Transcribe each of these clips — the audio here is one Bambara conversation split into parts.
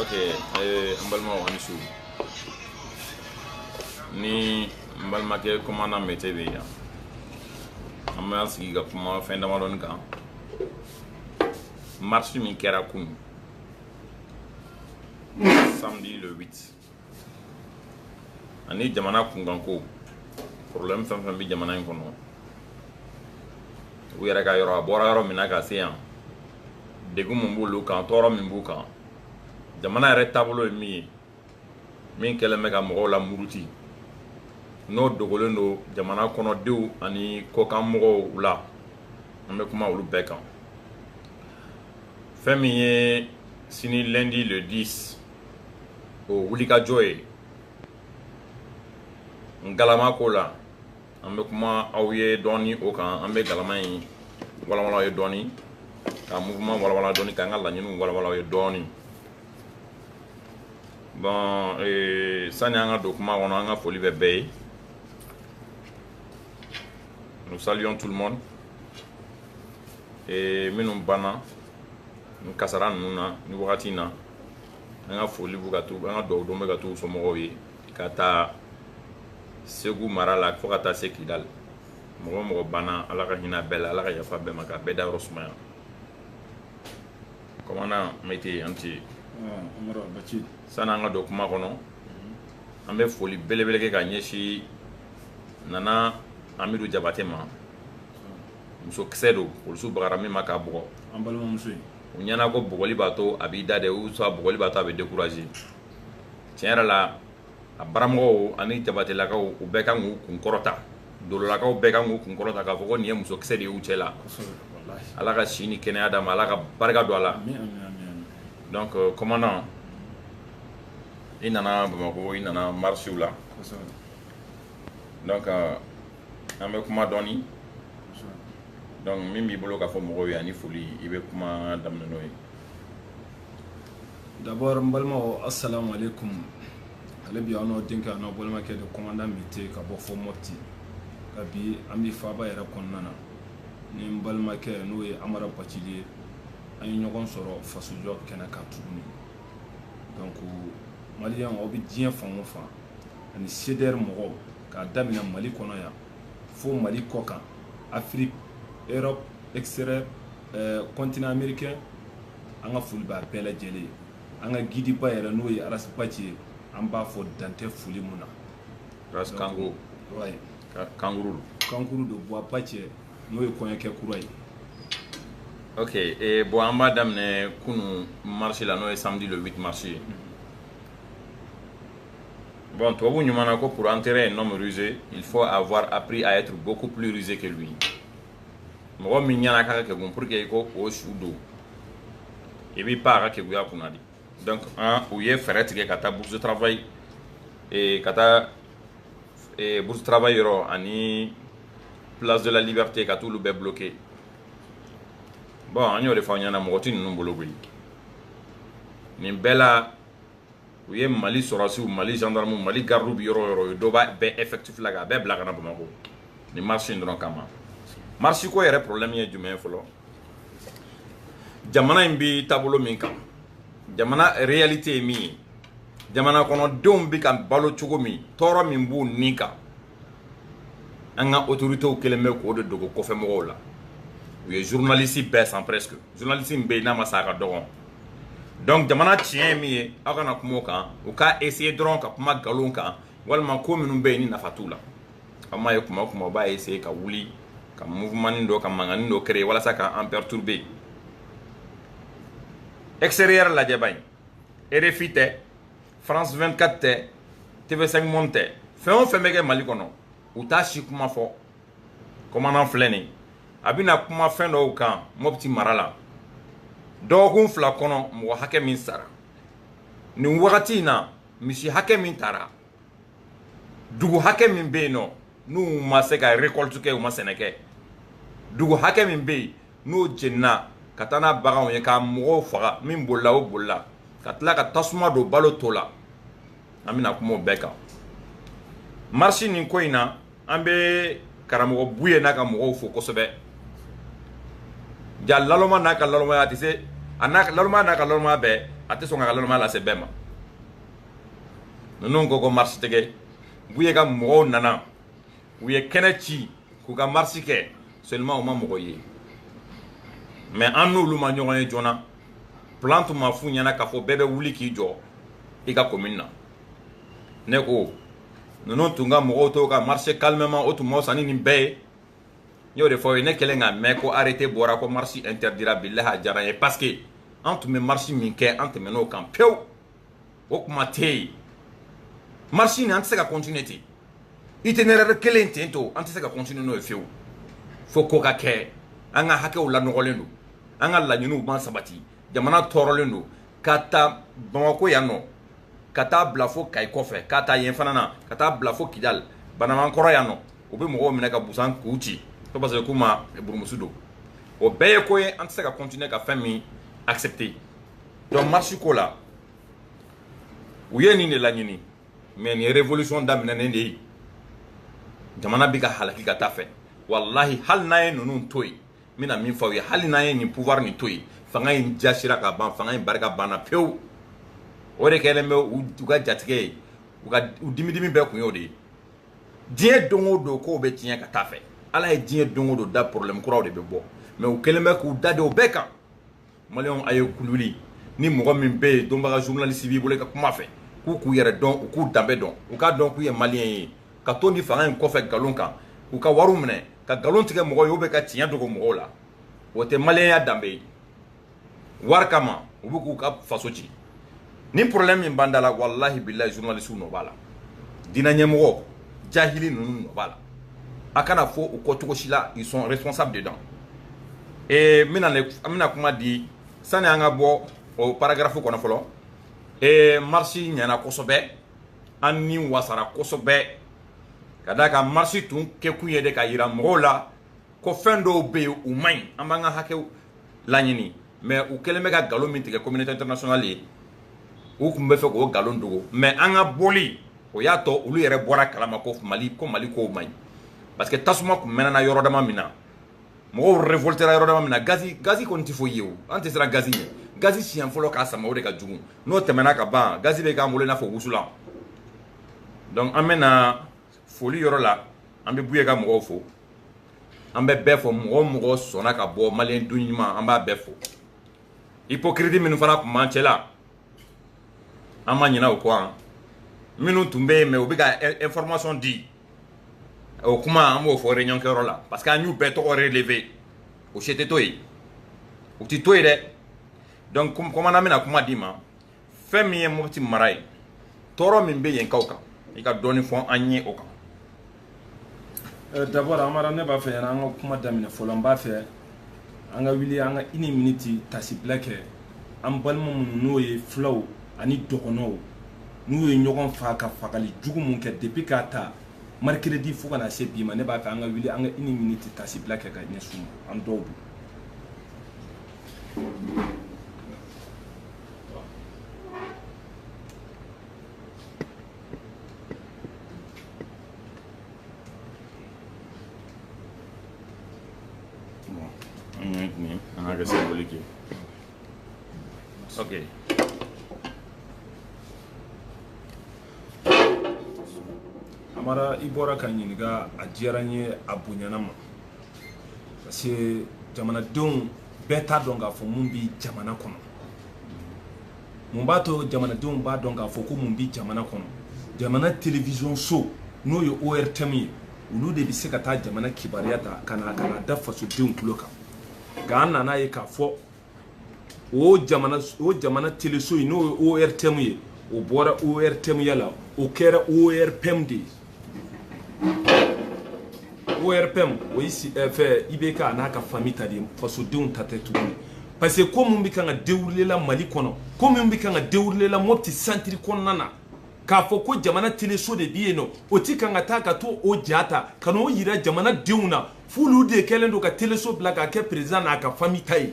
ok eh, n balimaw aw ni su ni n balimakɛ commandant mete bɛ yan an bɛna sigi ka kuma fɛn damadɔni kan marche min kɛra kunun samedi le 8 ani jamana kunkanko problème fɛn fɛn bɛ jamana in kɔnɔ u yɛrɛ ka yɔrɔ a bɔra yɔrɔ min na ka se yan degun min b'olu kan tɔɔrɔ min b'u kan jamana yɛrɛ taabolo ye min ye min kɛlen bɛ ka mɔgɔw lamuruti n'o dogolen don jamana kɔnɔdenw ani kɔkan mɔgɔw la an bɛ kuma olu bɛɛ kan fɛn min ye sini lundi le 10 o wulikajɔ ye n galama ko la an bɛ kuma aw ye dɔɔni o kan an bɛ galama in walawala ye dɔɔni ka mouvement walawala dɔɔni k'an ka laɲiniw walawala ye dɔɔni bon ee, sani an ka don kuma kɔnɔ an ka foli bɛ bɛɛ ye nous saluons tout le monde ee, minnu banna nin kasaara ninnu na nin wagati in na an ka foli bɛ ka to an ka dugawu don bɛ ka to u somɔgɔw ye k'a ta segu mara la fo ka taa se kidali mɔgɔ o mɔgɔ banna ala ka hinɛ bɛɛ la ala ka yafa bɛɛ ma ka bɛɛ dayɔrɔ sumaya commandant mete an ti sanni an ka don kuma kɔnɔ an bɛ foli belebele kɛ ka ɲɛsin nana amidu jabate ma musokisɛ don polisiw bagara min ma k'a bugɔ an balimamuso in u ɲɛ na ko bugɔli b'a to a b'i da dɛ ou soit bugɔli b'a to a bɛ décourager tiɲɛ yɛrɛ la a baramɔgɔw ani jabatelakaw u bɛɛ kan k'u kun kɔrɔta dololakaw bɛɛ kan k'u kun kɔrɔta k'a fɔ ko nin ye musokisɛ de y'u cɛ la ala ka si ni kɛnɛya d'a ma ala ka barika don a la donc euh, commandant i nana bamakɔ i nana marche la donc euh, an bɛ kuma dɔɔni donc min b'i bolo k'a fɔ mɔgɔw ye ani foli i bɛ kuma daminɛ n'o ye d'abord n balimaw assalamu alaikum hali bi aw n'aw denkɛ aw n'aw balimakɛ de commandant mete ka bɔ fo mɔti nka bi an bi faaba yɛrɛ kɔnɔna na ni n balimakɛ n'o ye amara bacili ye an ye ɲɔgɔn sɔrɔ fasojɔ kɛnɛ kan tuguni donc maliyɛnw aw bɛ diɲɛ fan o fan ani cdr mɔgɔw k'a daminɛ mali kɔnɔ yan fo mali kɔ kan afrique europe extérieur continent eh, américain an ka foli b'a bɛɛ lajɛlen ye an ka gidiba yɛrɛ n'o ye arasi baci ye an b'a fo dantɛ foli mun na kango kankuru kankuru don bɔyi baci n'o ye kɔɲɔkɛ kura ye ok e, bɔn an b'a daminɛ kunu marche la n'o ye samedi le 8 marche ye mm -hmm. Bon, tubabu ɲuman na ko pour enterrer un homme rusé, il faut avoir appris à être beaucoup plus rusé que lui. mɔgɔ min ɲɛna k'a ka kegun pour que i k'o su don i b'i pan a ka keguya kunna de donc u ye fɛɛrɛ tigɛ ka taa bourse travail eh, ka taa eh, bourse travail yɔrɔ ani place de la liberté ka t'olu bɛɛ bloqué bon an y'o de fɔ aw ɲɛna mɔgɔ ti ninnu bolo koyi nin bɛɛ la u ye mali sɔrɔsiw mali gendarmew mali gardiw bi yɔrɔ o yɔrɔ u ye dɔ b'a bɛɛ effectif la k'a bɛɛ bila ka na bamakɔ nin marche in dɔrɔn kama marche ko yɛrɛ problème ye jumɛn ye fɔlɔ jamana in bi taabolo min kan jamana réalité ye min ye jamana kɔnɔdenw bi ka balo cogo min tɔɔrɔ min b'u ni kan an ka autoritéw kelen bɛ k'o de dogo kɔfɛmɔgɔw la u ye journaliste bɛɛ san presque journaliste min bɛ yen n'a ma san a ka dɔgɔn donc jamana tiɲɛ ye min ye aw kana kuma o kan u k'a essayer dɔrɔn ka kuma nkalon kan walima ko minnu bɛ yen ni nafa t'u la aw m'a ye kuma o kuma u b'a essayer ka wuli ka mouvementnin dɔ ka mankannin dɔ créer walasa ka an perturber extérieur lajɛba in rfi tɛ france 24 tɛ tv5 monde tɛ fɛn o fɛn bɛ kɛ mali kɔnɔ u t'a si kuma fɔ commandant filɛ nin a bɛna kuma fɛn dɔw kan mɔpiti mara la dɔgɔkun fila kɔnɔ mɔgɔ hakɛ min sara nin wagati in na misi hakɛ min taara dugu hakɛ min bɛ yen nɔ n'u ma se ka récolte kɛ u ma sɛnɛ kɛ dugu hakɛ min bɛ yen n'o jenina ka taa n'a baganw ye k'a mɔgɔw faga min bolila o bolila ka tila ka tasuma don balo to la an bɛna kuma o bɛɛ kan marisi nin ko in na an bɛ karamɔgɔ buye n'a ka mɔgɔw fo kosɛbɛ ja lalɔma n'a ka lalɔmaya a tɛ se a n'a lalɔma n'a ka lalɔmaya bɛɛ a tɛ sɔn ka lalɔmaya lase bɛɛ ma ninnu ko ko marisi tigɛ buye ka mɔgɔw nana u ye kɛnɛ ci k'u ka marisi kɛ seulement u ma mɔgɔ ye mais an n'olu ma ɲɔgɔn ye joona plan tun ma f'u ɲɛna k'a fɔ bɛɛ bɛ wuli k'i jɔ i ka commune na ne ko ninnu tun ka mɔgɔw to ka marché calmement o tun ma fisa ni nin bɛɛ ye n y'o de fɔ aw ye ne kɛlen ka mɛn ko arrêté bɔra ko marché interdira bilahi a diyara n ye parce que an tun bɛ marché min kɛ an tɛmɛn'o kan pewu o kuma tɛ yen marche nin an tɛ se ka continuer ten itinéraire kelen ten to an tɛ se ka continuer n'o ye fiyewu fo ko ka kɛ an ka hakɛw lanɔgɔlen don an ka laɲiniw ma sabati jamana tɔɔrɔlen don ka ta bamakɔ yan nɔ ka taa bila fo kayi kɔfɛ ka taa yen fana na ka taa bila fo kidali banamankɔrɔ yan nɔ u bɛ mɔgɔw minɛ ka busan k'u ci ko parce que k'u ma burumusu don o bɛɛ ye ko ye an tɛ se ka continuer ka fɛn min accepter donc marche ko la u ye nin de laɲini mais nin ye révolution daminɛnen de ye jamana bɛ ka halaki ka taa fɛ walahi hali n'an ye ninnu to yen n bɛna min fɔ aw ye hali n'an ye nin pouvoir nin to yen fanga in jasira ka ban fanga in barika banna pewu o de kɛlen bɛ u ka jatigɛ ye u ka u dimi dimi bɛɛ kun y'o de ye diɲɛ don o don kow bɛ tiɲɛ ka taa fɛ ala ye diɲɛ don o don da problème kuraw de bɛ bɔ mais u kɛlen bɛ k'u da de o bɛɛ kan maliyɛnw a ye kululi ni mɔgɔ min bɛ yen dɔnbaga journaliste b'i bolo i ka kuma fɛ k'u k'u yɛrɛ dɔn u k'u danbe dɔn u k'a dɔn k'u ye maliyɛn ye ka to nin fanga in kɔfɛ nkalon kan k'u ka wariw minɛ ka nkalon tigɛ mɔgɔw ye u bɛ ka tiɲɛ dogo mɔgɔw la o tɛ maliyɛnya danbe ye wari kama u bɛ k'u ka faso ci ni problème min b'an da la walahi bilahi journaliste nɔ b'a la diinɛ ɲɛmɔgɔ jahili ninnu nɔ b'a la a kana fɔ u kɔ cogo si la ils sont responsables dedans ee n bɛna n bɛna kuma di sani an ka bɔ o paragraphe kɔnɔ fɔlɔ ee marche ɲɛna kosɛbɛ an ni wasara kosɛbɛ ka d'a kan marche tun kɛkun ye de ka yira mɔgɔw la ko fɛn dɔw bɛ yen u man ɲi an b'an ka hakɛw laɲini mais u kɛlen bɛ ka nkalon min tigɛ communauté internationale ye u tun bɛ fɛ k'o nkalon dogo mais an ka bɔli o y'a to olu yɛrɛ bɔra kalama ko mali ko mali kow man ɲi parce que tasuma tun mɛnɛna yɔrɔ dama min na mɔgɔw révoltera yɔrɔ dama min na ga gazi kɔni tɛ foyi ye o an tɛ siran gazi ɲɛ gazi siɲɛ fɔlɔ k'a sama o de ka jugu n'o tɛmɛna ka ban gazi bɛ k'an bolo i n'a fɔ wusulan donc an bɛna foli yɔrɔ la an bɛ buye ka mɔgɔw fo an bɛ bɛɛ fo mɔgɔ o mɔgɔ sɔnna ka bɔ maliyɛn den ɲuman an b'a bɛɛ fo hypocrite minnu fana tun b'an cɛ la an ma ɲinɛ o kɔ an minnu tun bɛ yen mais u bɛ ka information di o kuma an b'o fɔ réunion kɛyɔrɔ la parce que an y'u bɛɛ tɔgɔ relever o si tɛ to yen u tɛ to yen dɛ donc commandant n bɛna kuma d'i ma fɛn min ye mopti mara ye tɔɔrɔ min bɛ yenkaw kan i ka dɔɔni fɔ an ye o kan d'abord amara ne b'a fɛ yanni an ka kuma daminɛ fɔlɔ n b'a fɛ an ka wuli an ka une minute tasibila kɛ an balima minnu n'o ye fulaw ani dɔgɔnɔw n'u ye ɲɔgɔn fa ka fagali jugu mun kɛ depuis k'a ta mercredi fo ka na se bi ma ne b'a fɛ an ka wuli an ka une minute tasibila kɛ ka ɲɛsin an dɔw bi Okay. amara i bɔra ka ɲininka a diyara n ye a bonyana ma parce que jamanadenw bɛɛ t'a dɔn k'a fɔ mun bɛ jamana kɔnɔ mun b'a to jamanadenw b'a dɔn k'a fɔ ko mun bɛ jamana kɔnɔ jamana télévision so n'o ye ortm ye olu de bɛ se ka taa jamana kibaruya ta ka na ka na da fasodenw tulo kan nka an nana ye k'a fɔ o jamana o jamana teleso in n'o ye ortm ye o bɔra ortm ya la o kɛra orpm de ye ORPM o ye fɛ IBK an'a ka famille ta de ye fasodenw ta tɛ tuguni parce que ko min bɛ kan ka dérouler la Mali kɔnɔ ko min bɛ kan ka dérouler la Mopti centre kɔnɔna na k'a fɔ ko jamana teleso de bɛ yen nɔ o tɛ kan ka taa ka t'o o ja ta ka n'o yira jamana denw na f'olu de kɛlen don ka teleso bila k'a kɛ président n'a ka famille ta ye.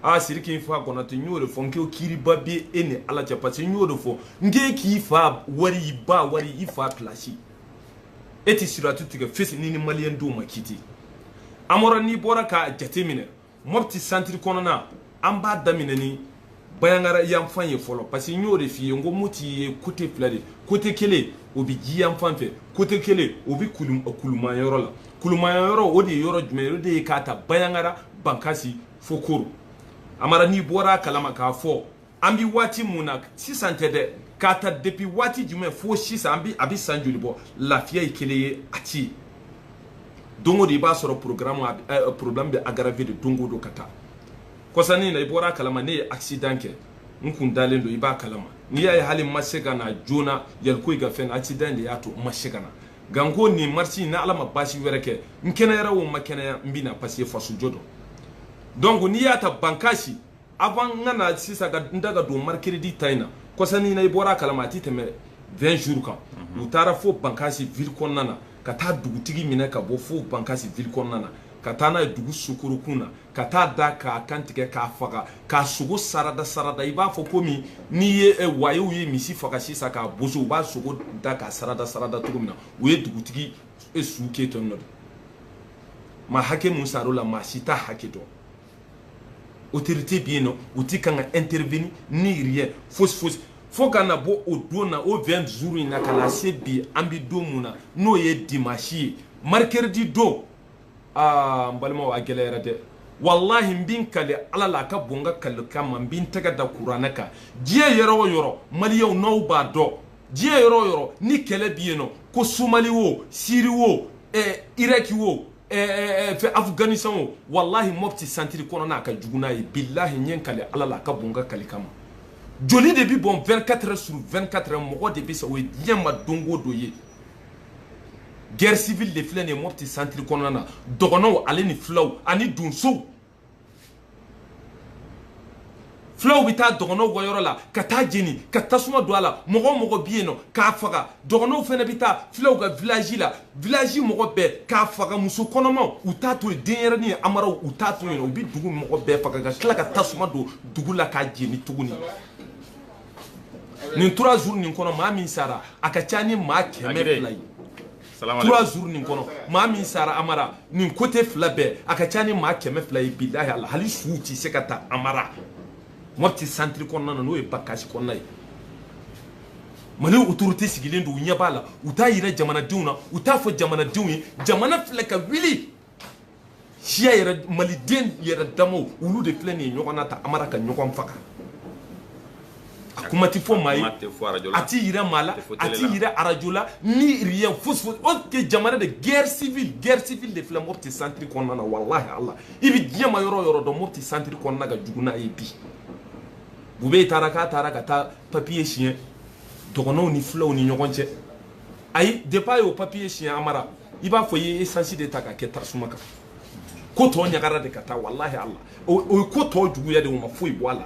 aa siriki n'fa konate n y'o de fɔ n ko kiiriba bɛ e ni ala cɛ parce que n y'o de fɔ n k'e k'i fa wari i ba wari i fa place e tɛ siratu tigɛ fesi n'i ni maliyɛn denw ma kiiti amara n'i bɔra k'a jate minɛ mopti centre kɔnɔna an b'a daminɛ ni bayangara yanfan ye fɔlɔ parce que n y'o de f'i ye n ko moti ye côté fila de côté kelen o bɛ ji yanfan fɛ côté kelen o bɛ kuluma yɔrɔ la Kuluma yɔrɔ o de ye yɔrɔ jumɛn ye o de ye k'a ta Baɲaŋara Bankasi fo Koro Amara n'i bɔra a kalama k'a fɔ an bi waati mun na sisan tɛ dɛ k'a ta depuis waati jumɛn fo sisan an bi a bi san joli bɔ lafiya ye kelen ye a ti ye don o don i b'a sɔrɔ programme a bi ɛɛ problème bɛ aggraver de don o don ka taa kɔsa nin na i bɔra a kalama ne ye accident kɛ n kun dalen don i b'a kalama n'i y'a ye hali n ma se ka na joona Yaliko i ka fɛn na accident de y'a to n ma se ka na nka n ko nin marche in ni ala ma baasi wɛrɛ kɛ n kɛnɛyara o ma kɛnɛya n bɛ na parce que fasojɔ don donc n'i y'a ta bankasi avant n ka na sisan ka n da ka don mercredi ta in na kɔsa nin na i bɔra a kalama a tɛ tɛmɛ 20 jours kan u taara fo bankasi ville kɔnɔna na ka taa dugutigi minɛ ka bɔ fo bankasi ville kɔnɔna na ka taa n'a ye dugu sukorokun na ka t'a da k'a kantigɛ k'a faga k'a sogo sarada sarada i b'a fɔ komi n'i ye eh, wayew ye misi faga sisan k'a boso u b'a sogo da k'a sarada sarada cogo min na u ye dugutigi eh, su kɛ ten nɔ de maa hakɛ mun sar'o la maa si t'a hakɛ dɔn autorité bɛ yen nɔ u ti kan ka intervenir ni rien fosi fosi fo ka na bɔ o don na o 20 jours in na ka na se bi an bɛ don mun na n'o ye dimanche ye mercredi don aa n balimaw a gɛlɛyara dɛ walahi n bɛ n kali ala la a ka bon n ka kali kama n bɛ n tɛgɛ da kuranɛ kan diɲɛ yɔrɔ o yɔrɔ maliyɛnw n'aw b'a dɔn diɲɛ yɔrɔ o yɔrɔ ni kɛlɛ bɛ yen nɔ ko somali wo siri wo eh, iraki wo eh, eh, eh, fɛ afganistan wo walahi mopti centre kɔnɔna a ka jugu n'a ye bilahi n ye n kali ala la a ka bon n ka kali kama joli de bɛ bɔn 24 heures sur 24 heures mɔgɔ de bɛ sa o ye diɲɛ ma don o don ye guerre civile de filɛ nin ye mopti centre kɔnɔna na dɔgɔnɔw ale ni filaw ani donsow filaw bɛ taa dɔgɔnɔw ka yɔrɔ la ka taa jeni ka tasuma don a la mɔgɔ o mɔgɔ bɛ yen nɔ k'a faga dɔgɔnɔw fana bɛ taa filaw ka village la village mɔgɔ bɛɛ k'a faga muso kɔnɔmaw u t'a to yen denyɛrɛni ye amara u t'a to yen u bɛ dugu mɔgɔ bɛɛ faga ka tila ka tasuma don dugu la k'a jeni tuguni nin trois jours nin kɔnɔ maa min sara a ka ca ni maa kɛmɛ fila ye trois jours nin kɔnɔ maa min sara amara nin côté fila bɛɛ a ka ca ni maa kɛmɛ fila ye bilahi ala hali suw tɛ se ka ta amara mopti centre kɔnɔna na n'o ye bankasi kɔnɔna ye mali autorité sigilen don u ɲɛ b'a la u t'a yira jamanadenw na u t'a fɔ jamanadenw ye jamana filɛ ka wuli siya yɛrɛ maliden yɛrɛ damaw olu de filɛ nin ye ɲɔgɔn na tan amara ka ɲɔgɔn faga a kuma tɛ fɔ maa ye a ti yira maa la a ti yira arajo la ni rien fosi fosi or que jamana de guerre civile guerre civile de filɛ mopti centre kɔnɔna na walahi ala i bɛ diɲɛ ma yɔrɔ o yɔrɔ dɔn mopti centre kɔnɔna ka jugu n'a ye bi bube taara k'a taara ka taa papiye siɲɛ dɔgɔnɔw ni filaw ni ɲɔgɔn cɛ ayi depuis a y'o papiye siɲɛ amara i b'a fɔ i ye esansi de ta ka kɛ tasuma kan ko tɔ ɲagara de ka taa walahi ala o ye ko tɔ juguya de o ma foyi bɔ a la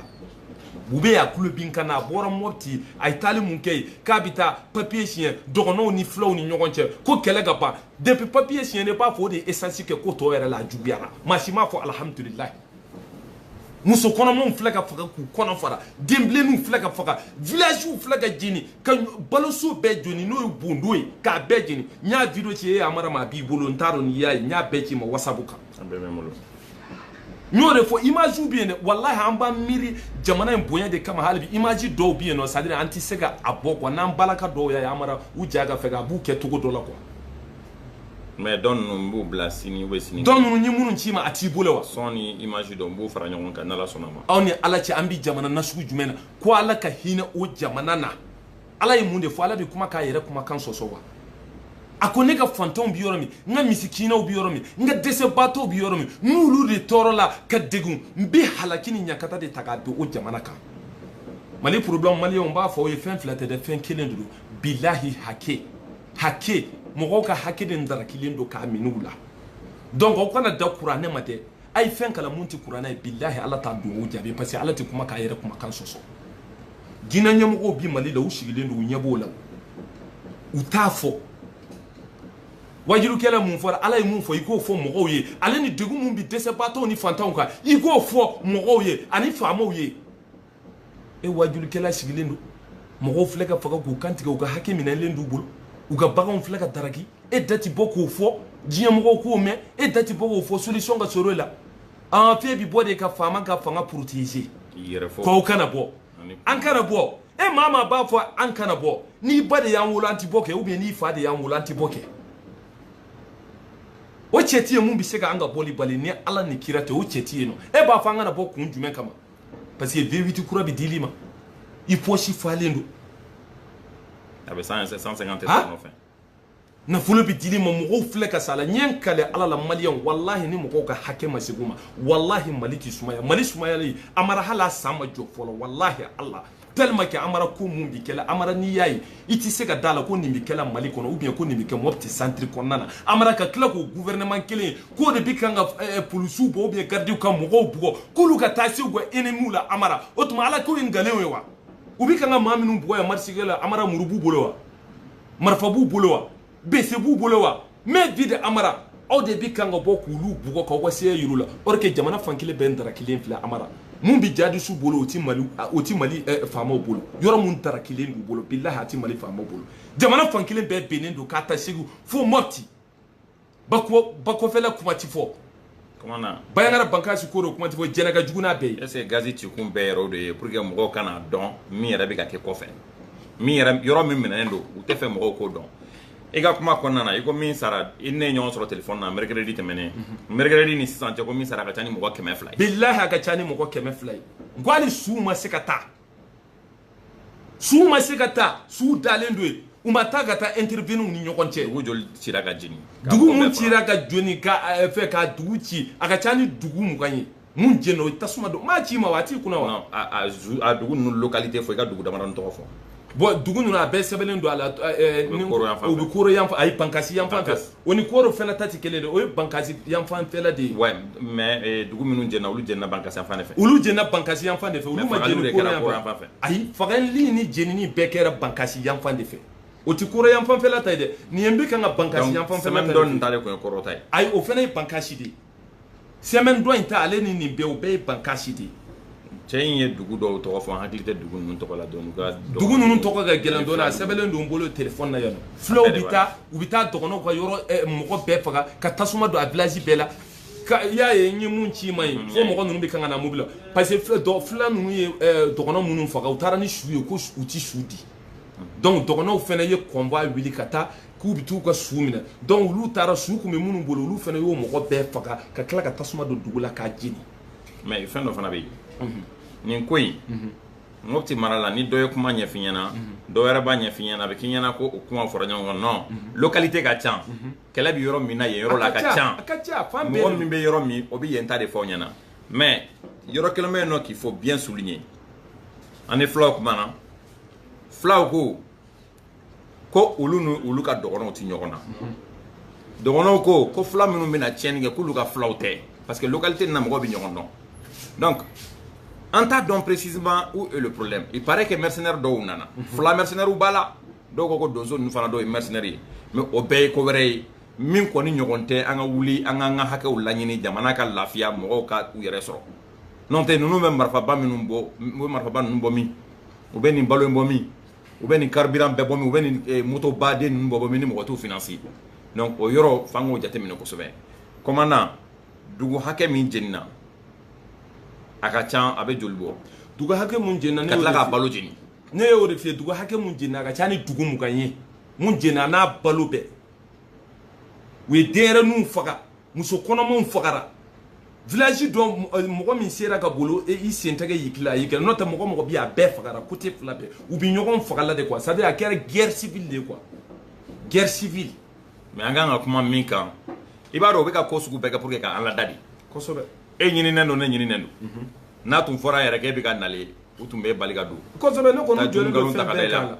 bube y'a kulo bin ka na a bɔra mopti a ye taali mun kɛ yen k'a bɛ taa papiye siɲɛ dɔgɔnɔw ni filaw ni ɲɔgɔn cɛ ko kɛlɛ ka ban depuis papiye siɲɛna i b'a fɔ o de ye esansi kɛ ko tɔ yɛrɛ la a juguyara maa si m'a fɔ alhamdulilahi muso kɔnɔmaw filɛ ka faga k'u kɔnɔ fara denbilenninw filɛ ka faga villagew filɛ ka jeni ka baloso bɛɛ jeni n'o ye bondo ye k'a bɛɛ jeni n y'a video ci e amara ma a b'i bolo n t'a dɔn n'i y'a ye n y'a bɛɛ ci i ma whatsapp kan n y'o de fɔ image bɛ yen dɛ walahi an b'an miiri jamana in bonya de kama hali bi image dɔw bɛ yen nɔ c'est à dire an tɛ se ka a bɔ quoi n'an balaka dɔw y'a ye amara u ja ka fɛ a b'u kɛ cogo dɔ la quoi mais dɔn ninnu n b'u bila sini ou bien sini dɔn ninnu ye minnu ci i ma a t'i bolo wa son ni image don n b'u fara ɲɔgɔn kan n'ala sɔnna ma aw ni ala cɛ an bɛ jamana nasugu jumɛn na ko ala ka hinɛ o jamana na ala ye mun de fɔ ala bɛ kuma k'a yɛrɛ kumakan sɔsɔ wa a ko ne ka fantanw bɛ yɔrɔ min n ka misikinɛw bɛ yɔrɔ min n ka dɛsɛbaatɔw bɛ yɔrɔ min n'olu de tɔɔrɔla ka degun n bɛ halaki ni ɲankata de ta k'a don o jamana kan mali problème maliyɛnw n b'a fɔ aw ye fɛn fila tɛ dɛ fɛn kelen de don bilahi hake hakɛ mɔgɔw ka hakɛ de darakilen don k'a minɛ u la donc aw kana dan kuranɛ ma dɛ a ye fɛn kalan mun tɛ kuranɛ ye bilahi ala t'a duwawu jaabi parce que ala tɛ kuma k'a yɛrɛ kumakan sɔsɔ diinɛ ɲɛmɔgɔw bi mali la u sigilen don u ɲɛ b'o la u t'a fɔ wajulikɛla mun fɔra ala ye mun fɔ i k'o fɔ mɔgɔw ye ale ni degun mun bi dɛsɛbaatɔw ni fantanw kan i k'o fɔ mɔgɔw ye ani faamaw ye e wajulikɛla sigilen don mɔgɔw filɛ ka faga k'u kantigɛ u ka hakɛ minɛlen d'u bolo u ka baganw filɛ ka daraki e da ti bɔ k'o fɔ diɲɛ mɔgɔw k'o mɛn e da ti bɔ k'o fɔ solution ka sɔrɔ e la an fɛn bi bɔ de ka faama ka fanga protéger k'aw kana bɔ an kana bɔ e maa maa b'a fɔ an kana bɔ n'i ba de y'an wolo an ti bɔ kɛ ou bien n'i fa de y'an wolo an ti bɔ kɛ o cɛ ti yen mun bɛ se ka an ka bɔli bali ni ala ni kira tɛ o cɛ ti yen nɔ e b'a fɔ an kana bɔ kun jumɛn kama parce que V8 kura bɛ dil'i ma i pɔsi falen don a bɛ 150 tɛ sɔrɔ nɔfɛ nafolo bɛ dil'i ma mɔgɔw filɛ ka sa la n ye n kale ala la maliyɛnw walahi ni mɔgɔw ka hakɛ ma segin u ma walahi mali tɛ sumaya mali sumayali amara hali a san ma jɔ fɔlɔ walahi ala tellement que amara ko mun bi kɛla amara n'i y'a ye i tɛ se ka da la ko nin bi kɛla mali kɔnɔ ou bien ko nin bi kɛ mɔpti centre kɔnɔna na amara ka tila k'o gouvernement kelen k'o de bi kan ka eh, polisiw bɔ ou bien gardiw ka mɔgɔw bugɔ k'olu ka taa se u ka enemiw la amara o tuma ala ko ye nkalon ye wa u bi kan ka maa minnu bugɔ yan marisikɛla amara muru b'u bolo wa marifa b'u bolo wa bese b'u bolo wa main vide amara aw de bi kan ka bɔ k'olu bugɔ k'aw ka seya yir'u la or que jamana fankelen bɛɛ darakilen filɛ amara mun bi jadisiw bolo o ti mali o ti mali eh, faamaw bolo yɔrɔ mun darakilen d'u bolo bilahi a ti mali faamaw bolo jamana fankelen bɛɛ binnen don k'a ta segu fo mɔpti bakɔfɛla kuma ti fɔ bayangara bankasi koro kuma tɛ fɔ jɛnɛ ka jugu n'a bɛɛ ye est ce que gazi cikun bɛɛ yɛrɛ o de ye pour que mɔgɔw kana dɔn min yɛrɛ bɛ ka kɛ kɔfɛ min yɛrɛ yɔrɔ min minɛnen don u t'a fɛ mɔgɔw k'o dɔn i ka kuma kɔnɔna na i ko min sara i ne ɲɔgɔn sɔrɔ telefɔni na mercredi tɛmɛnen mercredi ni sisan cɛ ko min sara ka ca ni mɔgɔ kɛmɛ fila ye bilahi a ka ca ni mɔgɔ kɛmɛ fila ye n ko hali su ma se ka taa suw ma se ka taa suw dalen don yen u ma taa ka taa intervenir ni ɲɔgɔn cɛ dugu joli cira ka jeni dugu mun cira ka jeni ka eh, fɛ ka dugu ci a ka ca ni dugu mugan ye mun jɛna o tasuma don m'a ci ma wa a t'i kunna wa a dugu ninnu localité fɔ i ka dugu damadɔni tɔgɔ fɔ bon dugu ninnu a bɛɛ sɛbɛnnen don a la eh, eh, o bɛ koro yan fan ayi bankasi yan fan fɛ O ni koro fana ta tɛ kelen de o ye bankasi yanfanfɛla de ye ouais mais dugu minnu jɛna olu jɛna bankasi fan fɛ olu jɛna bankasi yanfan de fɛ olu ma jɛni koro yanfan fɛ ayi fagali ni jenini bɛɛ kɛra bankasi yanfan de fɛ o tɛ koro yanfanfɛla ta ye dɛ nin ye n bɛ ka ka bankasi yanfan dɔn nin tɛ koro ta ye ayi o fana ye bankasi de ye semaine dɔ in ta ale ni nin bɛɛ o bɛɛ ye bankasi de ye cɛ in ye dugu dɔw tɔgɔ fɔ an hakili tɛ dugu ninnu tɔgɔ la dɔɔni dugu ninnu tɔgɔ ka gɛlɛn dɔɔni a sɛbɛnlen don n bolo téléphone na yan fulaw bɛ taa u bɛ taa dɔgɔnɔw ka yɔrɔ eh, mɔgɔ bɛɛ faga ka tasuma don a village bɛɛ la i y'a ye n ye mun ci i ma ye fo mɔgɔ ninnu bɛ kan ka na mobili la parce que fula ninnu ye eh, dɔgɔnɔ minnu faga u taara ni su ye ko u tɛ su di donc dɔgɔnɔw fɛnɛ ye convoi wuli ka taa k'u bɛ t'u ka su minɛ donc olu taara su kun bɛ minnu bolo olu fɛnɛ y'o mɔgɔ bɛɛ faga ka tila ka tasuma don dugu la k'a jeni mais fɛn dɔ fana bɛ yen nin ko in mopti mara la ni dɔ ye kuma ɲɛf'i ɲɛna dɔ wɛrɛ b'a ɲɛf'i ɲɛna a bɛ k'i ɲɛna ko o kuma fɔra ɲɔgɔn kan non localité ka ca kɛlɛ bɛ yɔrɔ min na yen yɔrɔ la a ka ca mɔgɔ min bɛ yɔrɔ min o bɛ yen ta de fɔ ɲɛna mais yɔrɔ kelen bɛ yen nɔ qu'il faut bien souligner an ni fulaw kuma na fulaw ko ko olu ni olu ka dɔgɔnɔw tɛ ɲɔgɔn na dɔgɔnɔw ko ko fula minnu bɛna tiɲɛni kɛ k'olu ka fulaw tɛ parce que localité nin na mɔgɔw bɛ ɲɔgɔn dɔn donc an t'a dɔn précisément où est le problème il paraît que mercenaire dɔw nana fula mercenaires b'a la dɔw ko ko donso ninnu fana dɔw ye mercenaire ye mais o bɛɛ ye ko wɛrɛ ye min kɔni ɲɔgɔn tɛ an ka wuli an k'an ka hakɛw laɲini jamana ka lafiya mɔgɔw ka u yɛrɛ sɔrɔ n'o tɛ ninnu bɛ marifaba minnu bɔ u bɛ marifaba ninnu bɔ min u bɛ nin balo in bɔ min u bɛ nin carburant bɛɛ bɔ min u bɛ nin eh, moto baden ninnu bɔ bɔ min ni mɔgɔ t'u financer donc o yɔrɔ f'an k'o jateminɛ kosɛbɛ kɔmandan dugu hakɛ min jenina a ka ca a bɛ joli bɔ dugu hakɛ mun jenina ka tila k'a balo jeni ne y'o de f'i ye dugu hakɛ mun jenina a ka ca ni dugu mugan ye mun jenina n'a balo bɛɛ u ye denyɛrɛninw faga muso kɔnɔmaw fagara village dɔ euh, mɔgɔ min sera ka boli e, i sen tɛgɛ y'i kila a y'i kila n'o tɛ mɔgɔ o mɔgɔ bi a bɛɛ fagara côté fila bɛɛ u bi ɲɔgɔn faga la de quoi c'est à dire a kɛra guerre civile de quoi guerre civile mais an kan ka kuma min kan i b'a dɔn u bɛ ka ko sugu bɛɛ kɛ pour que ka an ladade kosɛbɛ e ɲininen don ne ɲininen don mhm. n'a tun fɔra yɛrɛ k'e bɛ ka nale u tun b'i bali ka don kosɛbɛ ne kɔni jɔlen don fɛn bɛɛ kan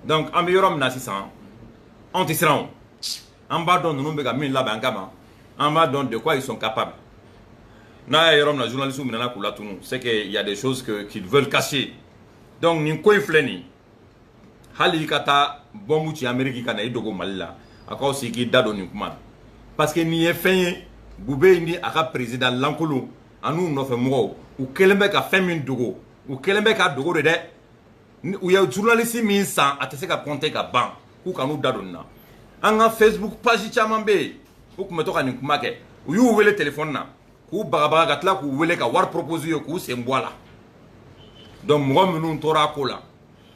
donc an bɛ yɔrɔ min na sisan anw tɛ siran o an b'a dɔn ninnu bɛ ka min labɛn an kama an b'a dɔn de quoi ils sont capables n'a ye yɔrɔ min na journalistes minɛna k'u latunu c'est que il y a des choses que qu'ils veulent cacher donc nin ko in filɛ nin hali i ka taa bɔnbu ci ameriki ka na i dogo mali la a ka wusa i k'i da don nin kuma na parce que nin ye fɛn ye boubèye ni a ka président lankolon an'u nɔfɛ mɔgɔw u kɛlen bɛ ka fɛn min dogo u kɛlen bɛ ka dogo de dɛ u ye journaliste min san a tɛ se ka compter ka ban k'u kan'u da don nin na an ka facebook page caman bɛ yen u tun bɛ to ka nin kuma kɛ u y'u wele telefɔni na k'u bagabaga ka tila k'u wele ka wari proposer u ye k'u sen bɔ a la donc mɔgɔ minnu tora a ko la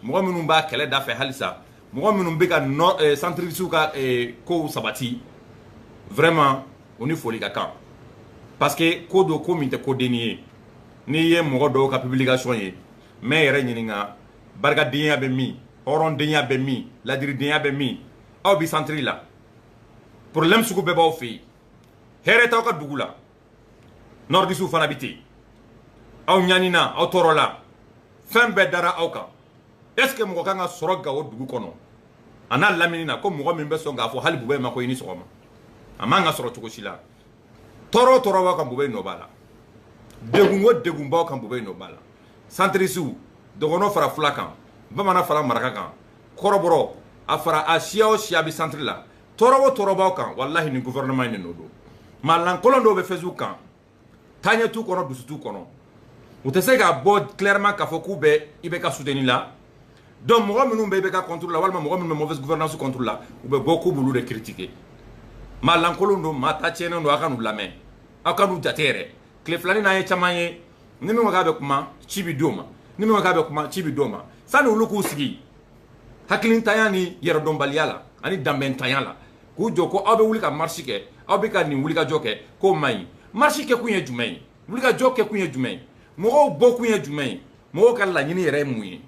mɔgɔ minnu b'a kɛlɛ da fɛ halisa mɔgɔ minnu bɛ ka nɔ eh, centristew ka eh, kow sabati vraiment u ni foli ka kan parce que ko don ko min tɛ ko denni ye n'i ye mɔgɔ dɔw ka publication ye n bɛ yɛrɛ ɲininka barikadenya bɛ min hɔrɔndenya bɛ min ladiridenya bɛ min aw bi centre la problème sugu bɛɛ b'aw fɛ yen hɛrɛ t'aw ka dugu la nordistew fana bɛ ten aw ɲanina aw tɔɔrɔla fɛn bɛɛ dara aw kan est ce que mɔgɔ kan ka sɔrɔ gawo dugu kɔnɔ a n'a lamini na ko mɔgɔ min bɛ sɔn k'a fɔ hali bubɛyi ma ko i ni sɔgɔma a man ka sɔrɔ cogo si la tɔɔrɔ o tɔɔrɔ b'aw kan bubɛyi nɔ b'a la degun o degun b'aw kan bubɛyi nɔ b'a la centristew dɔgɔnɔ fara fula kan bamanan fara maraka kan kɔrɔbɔrɔ a fara a siya o siya bɛ centre la tɔɔrɔ o tɔɔrɔ b'aw kan walahi nin gouvernement in de nɔ don maa lankolon dɔw bɛ facebook kan taaɲɛ t'u kɔnɔ dusu t'u kɔnɔ u tɛ se k'a bɔ clairement k'a fɔ k'u bɛ ibk soutenir la donc mɔgɔ minnu bɛ ibk contre la walima mɔgɔ minnu bɛ mauvaise gouvernance contre la u bɛ bɔ k'u b'olu de critiquer maa lankolon don maa ta tiɲɛnen don aw kan'u lamɛn aw kan'u jate yɛrɛ tile fila nin n'an ye caman ye ni min ko k'a bɛ kuma ci bɛ d'o ma ni min ko k'a bɛ kuma ci bɛ d'o ma sani olu k'u sigi hakilintanya ni yɛrɛdɔnbaliya la ani danbɛntanya la k'u jɔ ko aw bɛ wuli ka marche kɛ aw bɛ ka nin wulikajɔ kɛ k'o man ɲi marche kɛkun ye jumɛn ye wulikajɔ kɛ kun ye jumɛn ye mɔgɔw bɔ kun ye jumɛn ye mɔgɔw ka laɲini yɛrɛ ye mun ye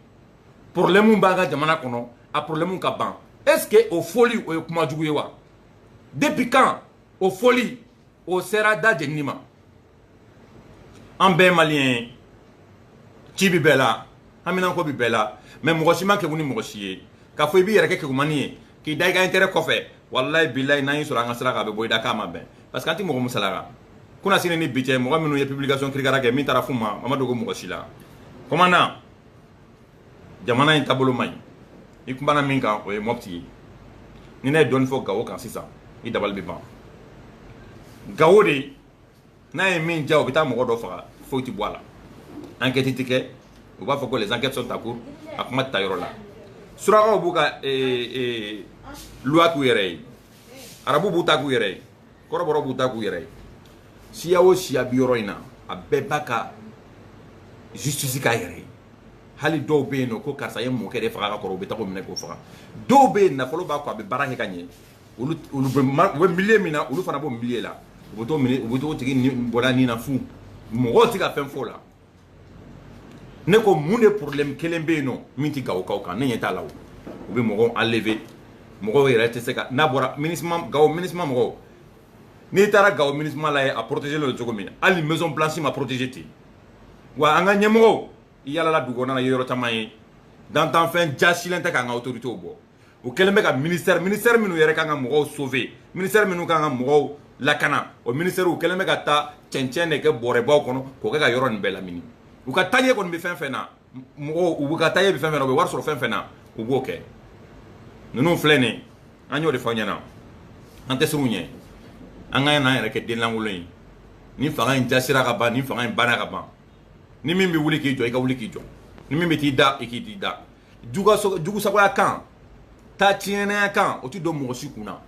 problème b'an ka jamana kɔnɔ a problème ka ban est ce que o fɔli o ye kuma jugu ye wa depuis quand o fɔli o sera da jenini ma an bɛɛ maliyɛn ye ci bi bɛɛ la haminanko bi bɛɛ la mais mɔgɔ si man kegun ni mɔgɔ si ye k'a fɔ i b'i yɛrɛ kɛ kegunmani ye k'i da i ka intérêt kɔfɛ wallahi billahi n'an y'i sɔrɔ an ka sira kan a bɛ bɔ i da k'a ma bɛn parce que an tɛ mɔgɔ musalaka kunasini ni bi cɛ mɔgɔ minnu ye publication kirikara kɛ min taara f'u ma a ma dogo mɔgɔ si la commandant jamana in taabolo man ɲi i kumana min kan o ye mopti ye ni ne ye dɔɔni fɔ gawo kan sisan i dabali bɛ ban gawo de n'a ye min diya o bɛ taa mɔgɔ dɔ faga foyi tɛ bɔ a la enquête tɛ kɛ u b'a fɔ ko les enquêtes sont en cours a kuma tɛ taa yɔrɔ la surakaw b'u ka loi k'u yɛrɛ ye arabu b'u ta k'u yɛrɛ ye kɔrɔbɔrɔ b'u ta k'u yɛrɛ ye siya o siya bi yɔrɔ in na a bɛɛ b'a ka justice k'a yɛrɛ ye hali dɔw bɛ yen n'o ko karisa ye n mɔkɛ de faga ka kɔrɔ u bɛ taga o minɛ k'o faga dɔw bɛ yen nafolo b'a kɔ a bɛ baara kɛ ka ɲɛ olu olu bɛ ma u bɛ milieu min na olu fana b'o milieu la u bɛ t'o minɛ u bɛ t'o tigi ni bɔ a ni na fu mɔgɔw tɛ ka fɛn fɔ o la ne ko mun de problème kelen bɛ yen nɔ min tɛ gawokaw kan ne ɲɛ t'a la o u bɛ mɔgɔw enlever mɔgɔw yɛrɛ tɛ se ka n'a bɔra minusma gawo minusma mɔgɔw n'i taara gawo minusma la i ye a protéger don cogo min na hali maison blanche ma protéger ten wa an ka ɲɛmɔgɔw i yalala dugu kɔnɔna n ye yɔrɔ caman ye dantanfɛn jasilen tɛ k'an ka autorités bɔ u kɛlen bɛ ka ministère ministère minnu yɛrɛ kan ka mɔgɔw sauver ministère minnu kan ka mɔgɔw lakana o ministère u kɛlen bɛ ka taa cɛncɛn de kɛ bɔrɛbaw kɔnɔ k'o kɛ ka yɔrɔ nin bɛɛ lamini u ka taɲɛ kɔni bɛ fɛn fɛn na mɔgɔw u ka taɲɛ bɛ fɛn fɛn na u bɛ wari sɔrɔ fɛn fɛn na u b'o kɛ ninnu filɛ nin ye an y'o de fɔ ɲɛna an tɛ siran u ɲɛ an kan'an yɛrɛ kɛ den lankolon ye ni fanga in jasira ka ban ni fanga in banna ka ban ni min bɛ wuli k'i jɔ i ka wuli k'i jɔ ni min bɛ t'i da i k'i t'i da jugusagoya kan ta tiɲɛnaya kan o ti don mɔgɔ si kun na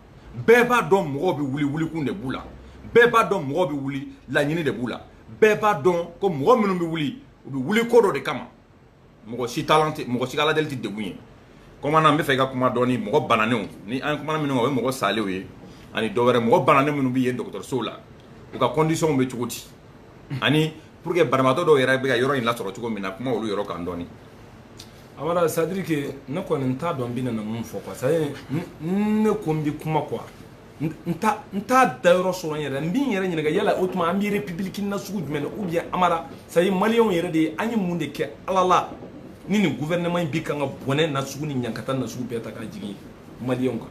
bɛɛ b'a dɔn mɔgɔw bɛ wuli wulikun de b'u la bɛɛ b'a dɔn mɔgɔw bɛ wuli laɲini de b'u la bɛɛ b'a dɔn ko mɔgɔ minnu bɛ wuli u bɛ wuli ko dɔ de kama mɔgɔ si talan tɛ mɔgɔ si ka aladeli tɛ degun ye commandant n b'a fɛ i ka kuma dɔɔni mɔgɔ bananenw ni an kumana minnu kan o ye mɔgɔ salenw ye ani dɔ wɛrɛ mɔgɔ bananen minnu bɛ yen dɔgɔtɔrɔsow la u ka conditions bɛ cogo di ani pour que banabaatɔ dɔw yɛrɛ bɛ ka yɔrɔ in lasɔrɔ cogo min na kuma olu yɔrɔ kan dɔɔni amara c'est-à-dire que ne kɔni n t'a dɔn n bɛna mun fɔ quoi c'est-à-dire ne ko n bɛ kuma quoi n t'a n t'a da yɔrɔ sɔrɔ n yɛrɛ n bɛ n yɛrɛ ɲininka yala o tuma an bɛ république na sugu jumɛn na ou bien amara c'est-à-dire maliyɛnw yɛrɛ de ye an ye mun de kɛ ala la ni nin gouvernement in bɛ kan ka bɔnɛ na sugu ni ɲankata na sugu bɛɛ ta k'a jigin maliyɛnw kan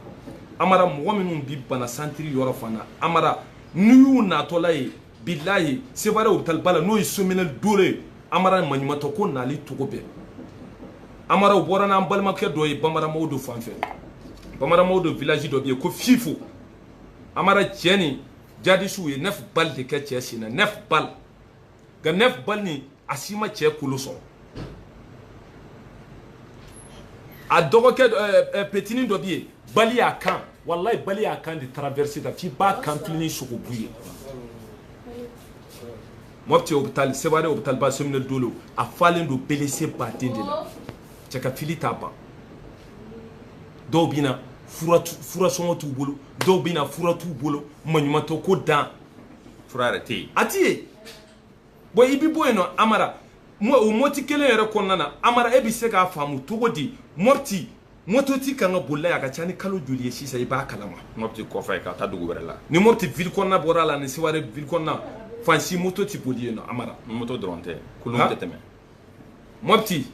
amara mɔgɔ minnu bɛ bana santiri yɔrɔ fana amara n'i y'u natɔla ye bilayi seware hôpital ba la n'o ye sominɛ dolo ye amara maɲumatɔ ko nali togo bɛɛ amara u bɔra n'an balimakɛ dɔ ye bambara mawudo fan fɛ bambara mawudo village dɔ bɛ yen ko fifo amara cɛ nin jadisiw ye neuf balles de kɛ cɛ sen na neuf balles nka neuf balles nin a si ma cɛ kolo sɔrɔ a dɔgɔkɛ eh, eh, petinin dɔ bɛ yen balle y'a kan walayi balle y'a kan de traverser tan f'i b'a kanfile nin sogobu ye mɔpti hôpital seware hôpital ba sominɛ dolo a falen don blessé baden de la cɛ ka fili t'a ban dɔw bɛ na fura sɔngɔ t'u bolo dɔw bɛ na fura t'u bolo maɲumantɔ ko dan fura yɛrɛ tɛ yen a tɛ yen bon i bi bɔ yen nɔ amara o mɔpti kelen yɛrɛ kɔnɔna na amara e bɛ se k'a faamu cogo di mɔpti moto ti kan ka boli la a ka ca ni kalo joli ye sisan i b'a kala ma mɔpti kɔfɛ ka taa dugu wɛrɛ la ni mɔpti ville kɔnɔna bɔra a la ni seware ville kɔnɔna fan si moto tɛ boli yen nɔ amara moto dɔrɔn tɛ kulun tɛ tɛmɛ mɔpti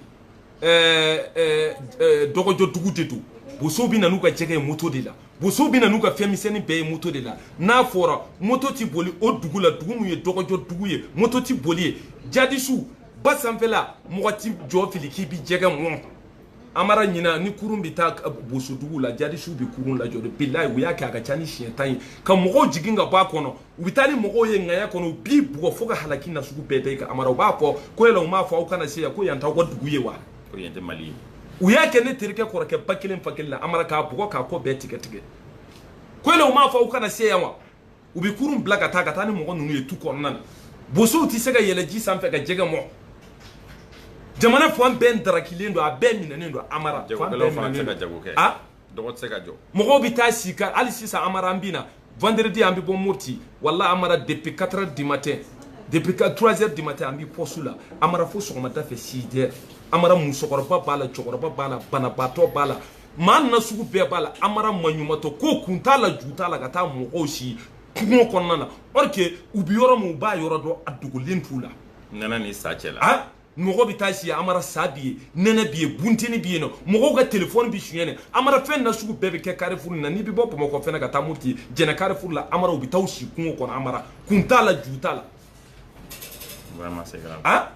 dɔgɔjɔ dugu de don bosow bɛ na n'u ka jɛgɛ ye moto de la bosow bɛ na n'u ka fɛn misɛnnin bɛɛ ye moto de la n'a fɔra moto tɛ boli o dugu la dugu min ye dɔgɔjɔ dugu ye moto tɛ boli yen jadisiw ba sanfɛla mɔgɔ tɛ jɔ fili k'i bɛ jɛgɛ mɔn amara ɲina ni kurun bɛ taa bosodugu la jadisiw bɛ kurun lajɔ de bilayi u y'a kɛ a ka ca ni siɲɛ tan ye ka mɔgɔw jigin ka bɔ a kɔnɔ u bɛ taa ni mɔgɔw ye ŋaya kɔnɔ u b'i bugɔ fo ka halaki na sugu bɛɛ da i kan amara u b'a fɔ ko yala u m'a fɔ aw kana se yan ko yan t'aw ka dugu ye wa ko yan tɛ mali ye u y'a kɛ ne terikɛ kɔrɔkɛ ba kelen fa kelen na amara k'a bugɔ k'a kɔ bɛɛ tigɛ tigɛ ko yala u m'a fɔ aw kana se yan wa u bɛ kurun bila ka taa ka taa ni mɔgɔ ninnu ye tu kɔnɔna na bosow tɛ se ka yɛlɛ ji sanfɛ ka jɛgɛ mɔn jamana fan bɛɛ darakilen don a bɛɛ minɛnen don amara fan bɛɛ minɛnen don a dɔgɔ tɛ se ka jɔ mɔgɔw bɛ taa si ka hali sisan amara an bɛ na vendredi an bɛ bɔ mɔpti wala amara depuis 4 heures du matin depuis 3 heures du matin an bɛ poste la amara fo sɔgɔmada fɛ 6 heures amara musokɔrɔba b'a la cɛkɔrɔba b'a la banabaatɔ b'a la maa na sugu bɛɛ b'a la amara maɲumatɔ ko kun t'a la ju t'a la ka taa mɔgɔw si kungo kɔnɔna na or que u bɛ yɔrɔ min u b'a yɔrɔ dɔn a dogolen t'u la nɛnɛ ni sa cɛ la ah, mɔgɔ bɛ taa si amara sa bi yen nɛnɛ bi yen bunteni bi yen nɔ mɔgɔw ka telefɔni bɛ suɲɛ dɛ amara fɛn na sugu bɛɛ bɛ kɛ karifuru na n'i bɛ bɔ bamakɔ fɛnɛ ka taa mɔpti jɛnɛ karifuru la amara u bɛ taa u si kungo kɔnɔ amara kun t'a la ju t'a la ah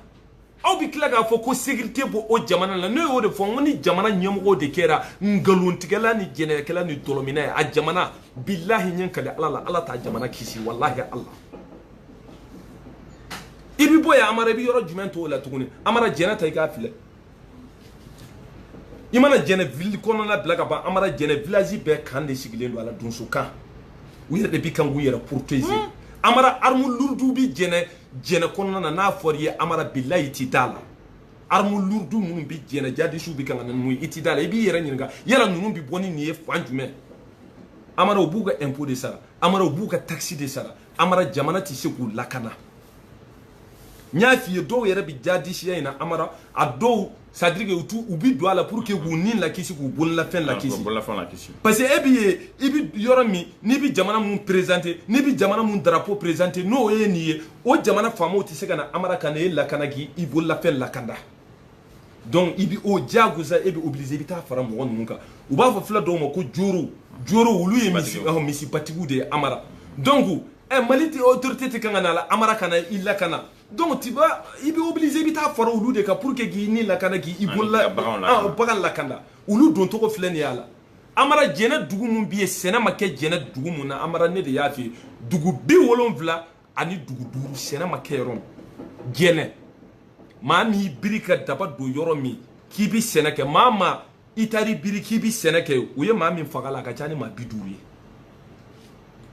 aw bɛ tila k'a fɔ ko sécurité b'o jamana la ne y'o de fɔ n ko ni jamana ɲɛmɔgɔw de kɛra nkalontigɛla ni jɛnɛyakɛla ni dɔlɔminna ye a jamana bilahi n ye n kali ala la ala t'a jamana kisi walahi ala i bɛ bɔ yan amara i bɛ yɔrɔ jumɛn to o la tuguni amara jɛnɛ ta i k'a filɛ i mana jɛnɛ ville kɔnɔna bila ka ban amara jɛnɛ village bɛɛ kan de sigilen don a la donso kan u yɛrɛ de bɛ kan k'u yɛrɛ protéger amara arme lourde bɛ jɛnɛ jɛnɛ kɔnɔna na n'a fɔra i ye amara bilayi i ti d'a la arme lourde minnu bi jɛnɛ jadisiw bi kan ka na n'u ye i ti d'a la i b'i yɛrɛ ɲininka yala ninnu bi bɔ ni nin ye fan jumɛn amara u b'u ka impôt de sara amara u b'u ka taxe de sara amara jamana tɛ se k'u lakana n y'a f'i ye dɔw yɛrɛ bi jadisiya in na amara a dɔw c'est à dire que u bi don a la pour que k'u ni lakisi k'u bololafɛn ah, lakisi bololafɛn lakisi parce que e bi ye i bi yɔrɔ min n'i bi jamana mun présenter n'i bi jamana mun drapeau présenter n'o ye nin ye o jamana faamaw tɛ se ka na amara ka na e lakana k'i i bololafɛn lakanda donc i bi o diyagosa e bi obligé i bi taa fara mɔgɔ ninnu kan u b'a fɔ fula dɔw ma ko joro joro olu ye misi ɔhɔn misibatigiw de ye amara donc ɛ mali tɛ autorité tɛ kan ka na a la amara ka na i lakana donc tu vas i bɛ obligé i bɛ taa fara olu de kan pour que k'i ni lakana k'i i bolola bagan lakana olu don cogo filɛ nin y'a la amara jɛnɛ dugu mun bɛ yen sɛnɛ ma kɛ jɛnɛ dugu mun na amara ne de y'a f'i ye dugu bi wolonwula ani dugu duuru sɛnɛ ma kɛ yɔrɔ min jɛnɛ maa min y'i biri ka daba don yɔrɔ min k'i bɛ sɛnɛ kɛ maa maa i taar'i biri k'i bɛ sɛnɛ kɛ o ye maa min faga la a ka ca ni maa bi duuru ye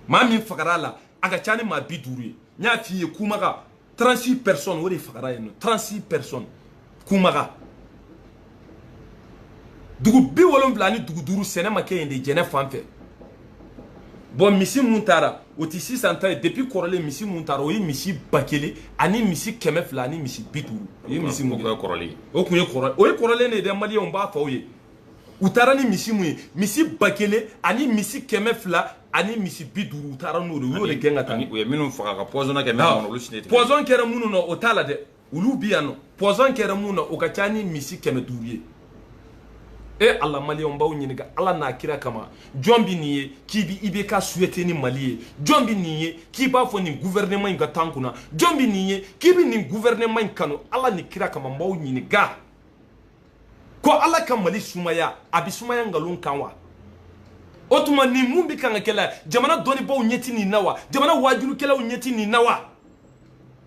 maa min fagara a la a ka ca ni maa bi duuru ye n y'a f'i ye kumaga 36 personnes o de fagara yen nɔ 36 personnes kumaga dugu bi wolonwula ni dugu duuru sɛnɛ ma kɛ yen de jɛnɛ fan fɛ bon misi mun taara o ti sisan ta ye depuis kɔrɔlen misi mun taara o ye misi ba kelen ani misi kɛmɛ fila ani misi bi duuru o ye misi mun kɔrɔlen o tun ye kɔrɔlen o ye kɔrɔlen de ye dɛ maliyɛnw b'a fɔ aw ye u taara ni misi mun ye misi ba kelen ani misi kɛmɛ fila ani misi bi duuru u taara n'o de u y'o de gɛn ka taa u ye minnu faga ka poison kɛ minnu olu si tɛ poison kɛra minnu na o t'a la dɛ olu bi yan nɔ poison kɛra minnu na o ka ca ni misi kɛmɛ duuru ye e ala maliyɛnw n b'aw ɲininka ala n'a kira kama jɔn bɛ nin ye k'i bi ibk souhaiter ni mali ye jɔn bɛ nin ye k'i b'a fɔ nin gouvernement in ka tan kunna jɔn bɛ nin ye k'i bɛ nin gouvernement in kanu ala ni kira kama n b'aw ɲininka ko ala ka mali sumaya a bɛ sumaya nkalon kan wa o tuma nin mun bɛ kan ka kɛ la jamana dɔnnibaaw ɲɛ ti nin na wa jamana waajulikɛlaw ɲɛ ti nin na wa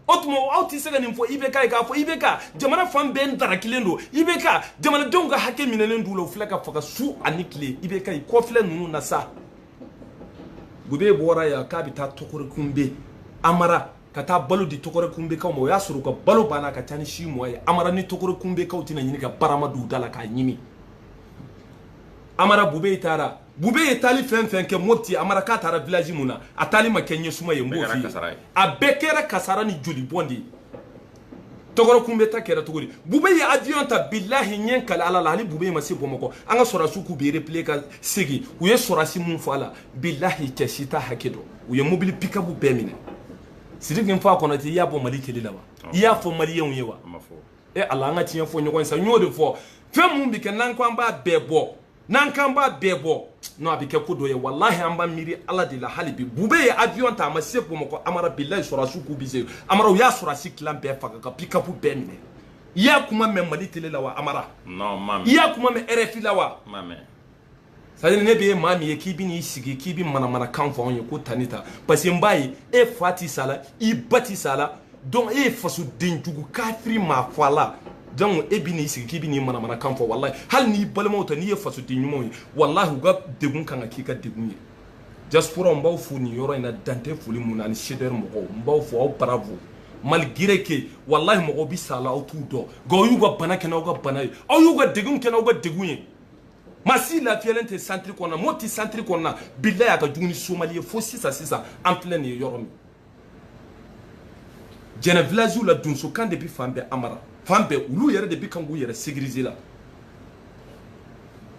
o tuma aw tɛ se ka nin fɔ ibk ye k'a fɔ ibk jamana fan bɛɛ n darakilen don ibk jamanadenw ka hakɛ minɛlen d'u la u filɛ ka faga su ani tile ibk i kɔ filɛ ninnu na sa bube bɔra yan k'a bɛ taa tɔkɔrɔkunbe amara ka taa balo di tɔkɔrɔkunbekaw ma o y'a sɔrɔ u ka balo banna ka ca ni six mois ye amara ni tɔkɔrɔkunbekaw tɛna ɲini ka barama d'u da la k'a ɲimi amara bube taara bube ye taali fɛn fɛn kɛ mopti amara k'a taara village mun na a taali ma kɛ ɲɛsuma ye n b'o f'i ye a bɛɛ kɛra kasara ni joli bɔn de ye tɔkɔrɔkunbe ta kɛra cogo di bube ye avion ta bilahi n ye n kali ala la hali bube ma se bamakɔ an ka sɔrɔdasiw k'u bɛ replier ka segin u ye sɔrɔdasi mun faga a la bilahi cɛ si t'a hakɛ dɔn u ye mobili pickup bɛɛ minɛ sidiki nfa konate i y'a bɔ mali tele la wa i y'a fɔ maliyɛnw ye wa e ala an ka tiɲɛ fɔ ɲɔgɔn ye sa n y'o de fɔ fɛn mun bɛ kɛ n'an ko an b'a bɛɛ bɔ n'an k'an b'a bɛɛ bɔ non a bɛ kɛ ko dɔ ye walahi an b'an miiri ala de la hali bi bube ye avion ta a ma se bamakɔ amara bilayi sɔrɔdasiw k'u bi se amara u y'a sɔrɔdasi tilan bɛɛ faga ka pickup bɛɛ minɛ i y'a kuma mɛn mali tele la wa amara non ma mɛn i y'a kuma mɛn rfi la wa ma mɛn c'est-à-dire ne bɛ ye maa min ye k'i bɛ n'i sigi k'i bɛ manamanakan fɔ anw ye ko tan ni tan parce que n b'a ye e fa ti sa la i ba ti sa la donc e ye fasoden jugu kafiri maa fɔ a la donc e bɛ n'i sigi k'i bɛ n'i manamanakan fɔ walahi hali n'i balimaw tɛ n'i ye fasoden ɲumanw ye walahi u ka degun kan ka k'i ka degun ye diaspora n b'aw fo nin yɔrɔ in na dan tɛ foli mun na ani cdr mɔgɔw n b'aw fo aw bravo malgré que walahi mɔgɔw bɛ sa la aw t'u dɔn nka aw y'u ka bana kɛ n'aw ka bana ye aw y'u ka degun kɛ n'aw ka degun ye maa si lafiyalen tɛ santiri kɔnɔna mɔti santiri kɔnɔna bilayi a ka jugu ni somali ye fo sisan sisan an filɛ nin ye yɔrɔ min jɛnɛ vilaziw la donsokan de bɛ fan bɛɛ amara fan bɛɛ olu yɛrɛ de bɛ kan k'u yɛrɛ sécuriser la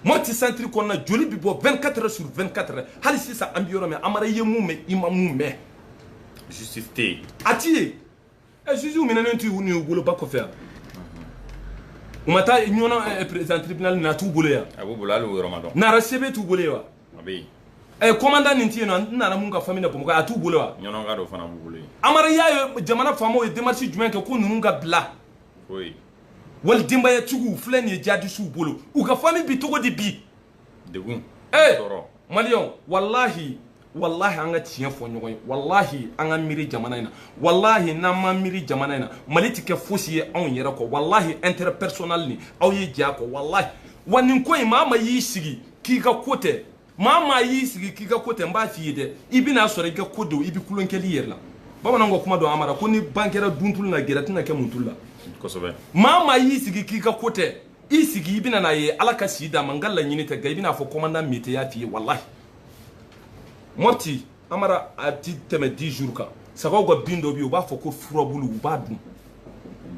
mɔti santiri kɔnɔna joli bɛ bɔ 24 heures sur 24 heures hali sisan an bɛ yɔrɔ min amara ye mun mɛn i ma mun mɛn justice tɛ yen a ti ye ɛ jugew minɛnen tɛ ninnu bolo ba kɔfɛ yan u ma taa ɲɔnɔn président tribunal na a t'u bolo yan a b'u bolo hali o yɔrɔ ma dɔn nara sebe t'u bolo ye wa a bɛ yen ɛ kɔmandan nin tɛ yen nɔ n nana mun ka fami na bamakɔ a t'u bolo wa ɲɔnɔnka dɔ fana b'u bolo yen amara y'a ye jamana faamaw ye démarche jumɛn kɛ ko ninnu ka bila foyi wali denbayatigiw filɛ nin ye jadisiw bolo u ka fami bi cogo di bi degun ee tɔɔrɔ maliyɛnw walahi walahi an ka tiɲɛ fɔ ɲɔgɔn ye walahi an ka miiri jamana in na walahi n'an ma miiri jamana in na mali tɛ kɛ fosi ye anw yɛrɛ kɔ walahi intérêt personnel nin aw ye jɛn a kɔ walahi wa nin ko in maa maa y'i sigi k'i ka ko tɛ maa maa y'i sigi k'i ka ko tɛ n b'a f'i ye dɛ i bɛn'a sɔrɔ i ka ko don i bɛ kulonkɛli yɛrɛ la bamananw ka kuma don amara ko ni ban kɛra duntulu la gɛrɛ tɛna kɛ muntulu la kosɛbɛ maa maa y'i sigi k'i ka ko tɛ i sigi i bɛna n'a ye ala ka si d'a ma n ka laɲini tɛ nka i bɛn'a fɔ kɔmandan mete y'a f'i ye walahi mɔti amara a ti tɛmɛ 10 jours kan sagaw ka bin dɔ bi u b'a fɔ ko furabulu u b'a dun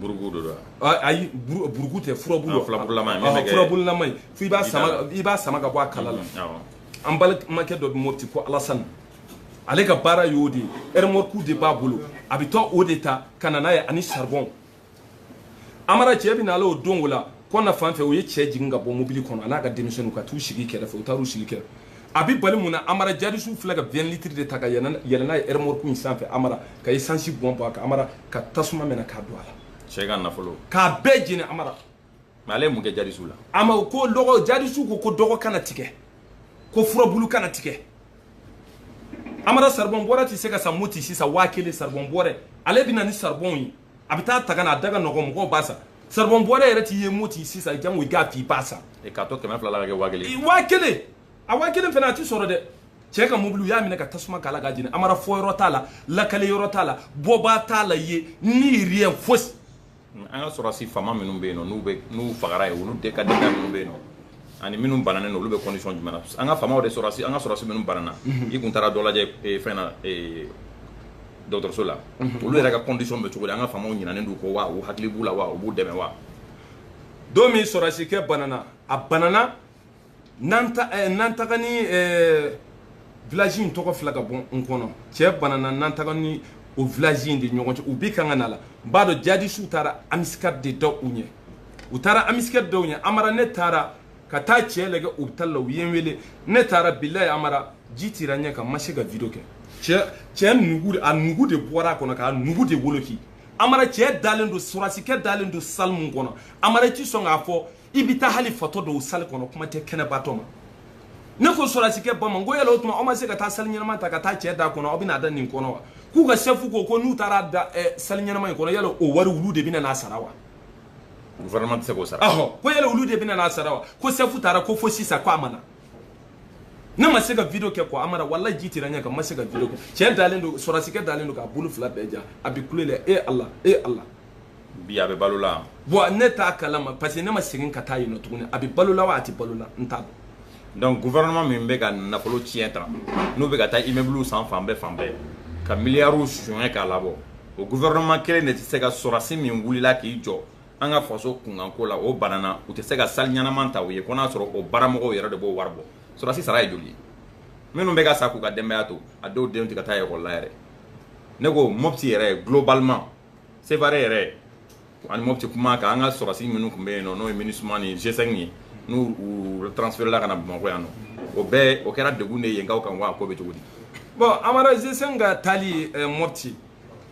burugu de don ayi burugu tɛ furabulu ah, furabululama ah, ye fo i b'a sama i b'a sama ka bɔ a kala la mm-hmm, an balimakɛ dɔ bɛ mɔti ko alasani ale ka baara y'o de ye ɛrɛmɔriku de b'a bolo a bɛ taa o de ta ka na n'a ye ani saribɔn amara cɛ bɛ na ale o don o la kɔna fan fɛ u ye cɛ jigin ka bɔ mobili kɔnɔ a n'a ka denmisɛnninw ka t'u sigi kɛrɛfɛ u taar'u sigi kɛrɛfɛ a bɛ bali mun na amara jadisiw filɛ ka 20 litres de ta ka yɛlɛn yɛlɛn n'a ye ɛrɛmɔrɔku in sanfɛ amara ka esansi bɔn bɔn a kan amara ka tasuma minɛ k'a don a la cɛ ka nafolo k'a bɛɛ jeni amara mais ale ye mun kɛ jadisiw la ama o ko dɔgɔ jadisiw ko ko dɔgɔ kana tigɛ ko furabulu kana tigɛ amara saribɔn bɔrɛ tɛ se ka san mɔti sisan waa kelen saribɔn bɔrɛ ale bɛ na ni saribɔnw ye a bɛ taa ta ka na a da ka nɔgɔ mɔgɔw b'a san saribɔn bɔrɛ yɛrɛ ti ye mɔti sisan jango i k'a f'i b'a san e k'a to kɛmɛ fila la ka kɛ waa kelen waa kelen a waa kelen fana a ti sɔrɔ dɛ cɛ ka mobili u y'a minɛ ka tasuma k'a la k'a jeni amara fɔ yɔrɔ t'a la lakale yɔrɔ t'a la bɔbaa t'a la ye ni rien fosi an ka sɔrɔdasi faama minnu bɛ yen nɔ n'u bɛ n'u fagara ye olu de ka denbaya minnu bɛ yen nɔ ani minnu bananen don olu bɛ condition jumɛn na an ka faamaw de sɔrɔdasi an ka sɔrɔdasi minnu banana i kun taara dɔ lajɛ fɛn na dɔgɔtɔrɔso la mhm. olu yɛrɛ ka condition bɛ cogo di an ka faamaw ɲinalen d'u kɔ wa u hakili b'u la wa u b'u dɛmɛ wa don min sɔrɔsikɛ banana a banana nantaga ni eh, village in tɔgɔ fila ka bɔ n kɔnɔ cɛ banana nantaga ni o village in de ɲɔgɔn cɛ u bi kan ka na la n b'a dɔn jadisiw taara embuscade de da u ɲɛ u taara embuscade da u ɲɛ amara ne taara ka taa cɛ lagɛ hôpital la u ye n wele ne taara bilayi amara ji tira ɲɛ kan n ma se ka video kɛ cɛ cɛ nugu a nugu de bɔra a kɔnɔ k'a nugu de woloki amara cɛ dalen don surasikɛ dalen don salle min kɔnɔ amara i ti sɔn k'a fɔ i bɛ taa hali fatɔ don salle kɔnɔ kuma tɛ kɛnɛbatɔ ma ne ko sɔrasikɛ ba ma n ko yala o tuma aw ma se ka taa salle ɲɛnama ta ka taa cɛ da kɔnɔ aw bɛna a da nin kɔnɔ wa k'u ka chef ko ko n'u taara da salle ɲɛnama in kɔnɔ yala o wari olu de bɛna n'a sara wa gouvernement tɛ se k'o sara ɔhɔ ko yala olu de bɛna n'a sara wa ko chef taara ko fo sisan ko a ma na ne ma se ka video kɛ quoi amara walayi ji tira ɲɛ kan ma se ka video kɛ cɛ dalen don sɔrasikɛ dalen don k'a bolo fila bɛɛ ja a bi kule la e ala e ala bi a bɛ balo la bon ne t'a kalama parce que ne ma segin ka taa yen nɔ tuguni a bɛ balo la wa a tɛ balo la n t'a dɔn donc gouvernement min bɛ ka nafolo tiɲɛ tan u bɛ ka taa immeuble san fan bɛɛ fan bɛɛ ka miliyariw suɲɛ k'a labɔ o gouvernement kelen de tɛ se ka sɔrɔdasi min wulila k'i jɔ an ka faso kunkanko la o banana u tɛ se ka salle ɲɛnama ta u ye ko n'a sɔrɔ o baramɔgɔw yɛrɛ de b'o wari bɔ sɔrɔdasi sara ye joli ye minnu bɛ ka sa k'u ka denbaya to a dɔw denw tɛ ka taa ekɔli la yɛrɛ ne ko mopti yɛrɛ globalement sevare yɛrɛ ani mɔti kuma kan an ka sɔrɔsi minnu tun bɛ yen nɔ n'o ye minusma ni G5 ye n'u transferela ka na bamakɔ yan nɔ o bɛɛ o kɛra degun de yenkaw kan wa ko bɛ cogo di bon amara G5 ka taali eh, mɔti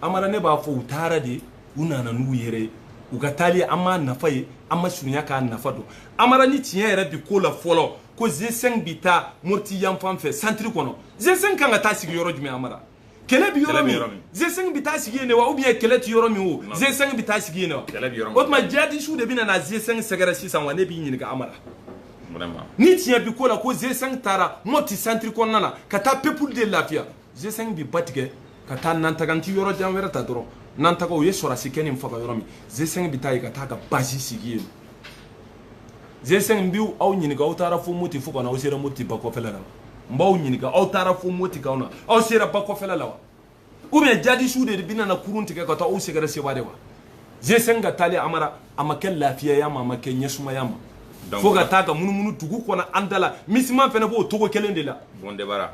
amara ne b'a fɔ u taara de u nana n'u yɛrɛ ye u ka taali an m'a nafa ye an ma surunya k'a nafa dɔn amara ni tiɲɛ yɛrɛ bi ko la fɔlɔ ko G5 bi taa moti yanfan fɛ centre kɔnɔ G5 kan ka taa sigi yɔrɔ jumɛn amara kɛlɛ bi yɔrɔ min G5 bi taa sigi yen de wa ou bien kɛlɛ ti yɔrɔ min o G5 bi taa sigi yen de wa o tuma jihadisiw de bɛna na G5 sɛgɛrɛ sisan wa ne b'i ɲininka amara ni tiɲɛ bi ko la ko G5 taara mɔti centre kɔnɔna na ka taa peuple de lafiya G5 bi ba tigɛ ka taa nantaga n ti yɔrɔ jan wɛrɛ ta dɔrɔn nantaga o ye sɔrɔdasikɛnin faga yɔrɔ min G5 bi taa yen ka taa ka base sigi yen G5 n bi aw ɲininka aw taara fo moti fo ka na aw sera moti ba kɔfɛla la wa n b'aw ɲininka aw taara fo moti ka na aw sera ba kɔfɛla la wa ou bien jadisiw de bɛna na kurun tigɛ ka taa aw sɛgɛrɛ sevare wa G5 ka taali amara a ma kɛ lafiyaya ma a ma kɛ ɲɛsumaya ma fo ka taa ka munumunu dugu kɔnɔ an da la minusma fana b'o cogo kelen de la bon débarras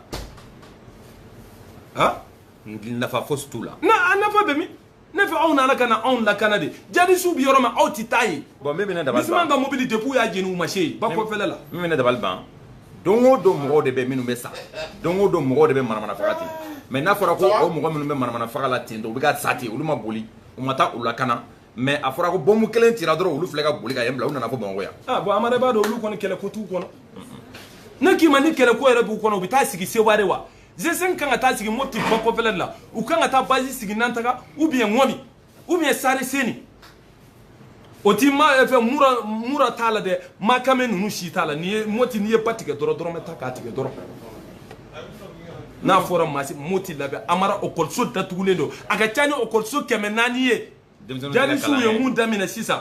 ha nafa fosi t'u la na a nafa bɛ min ne fɛ aw nana ka na anw lakana de jadisiw bɛ yɔrɔ min aw tɛ taa yen bon min bɛ ne dabali ban minusma ka mobili depuis u y'a jeni u ma se yen ba kɔfɛla la min bɛ ne dabali ban don o don mɔgɔw de bɛ minnu bɛ sa don o don mɔgɔw de bɛ manamana faga ten mais n'a fɔra ko o mɔgɔ minnu bɛ manamana faga la ten dɔrɔn u bɛ ka sa ten olu ma boli u ma taa u lakana mais a fɔra ko bɔnmu kelen cira dɔrɔn olu filɛ ka boli ka yen bila u nana fo bamakɔ yan ah, bon amara b'a dɔn olu kɔni kɛlɛ ko t'u kɔnɔ ne k'i ma ni kɛlɛ ko yɛrɛ b'u kɔnɔ u bɛ taa sigi seware wa G5 kan ka taa sigi moti ba kɔfɛla de la u kan ka taa bazi sigi nantaga ou bien ŋɔmi ou bien sare seni o ti ma eh, fɛ mura mura t'a la dɛ makame ninnu si t'a la ni ye moti n'i ye ba tigɛ dɔrɔn dɔrɔmɛ ta k'a tigɛ dɔrɔn n'a fɔra masi moti labɛn amara okɔliso datugulen don a ka ca ni okɔliso kɛmɛ naani ye jadisiw ye mun daminɛ sisan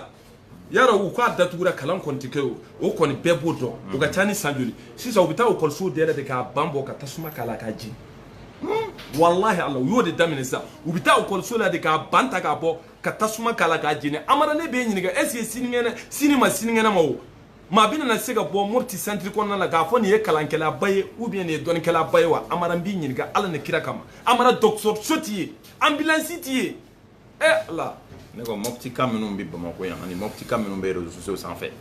yara u k'a datugura kalan kɔni tɛ kɛ o o kɔni bɛɛ b'o dɔn o ka ca ni san joli sisan u bɛ taa ekɔlisow yɛrɛ de k'a ban bɔ ka tasuma k'a la k'a jeni walahi ala u y'o de daminɛ sisan u bɛ taa ekɔliso la de k'a ban ta k'a bɔ ka tasuma k'a la k'a jeni amara ne b'e ɲininka est ce que sinikɛnɛ sini ma sinikɛnɛ ma o maa bɛna na se ka bɔ mopti santiri kɔnɔna la k'a fɔ nin ye kalankɛlaba ye ou bien nin ye dɔnnikɛlaba ye wa amara n b'i ɲininka ala ni kira kama amara dɔgɔtɔrɔso ti yen anbilansi ti yen ɛ eh, ala ne ko mɔptika minnu bɛ bamakɔ yan ani mɔptika minnu bɛ réseaux sociaux sanfɛ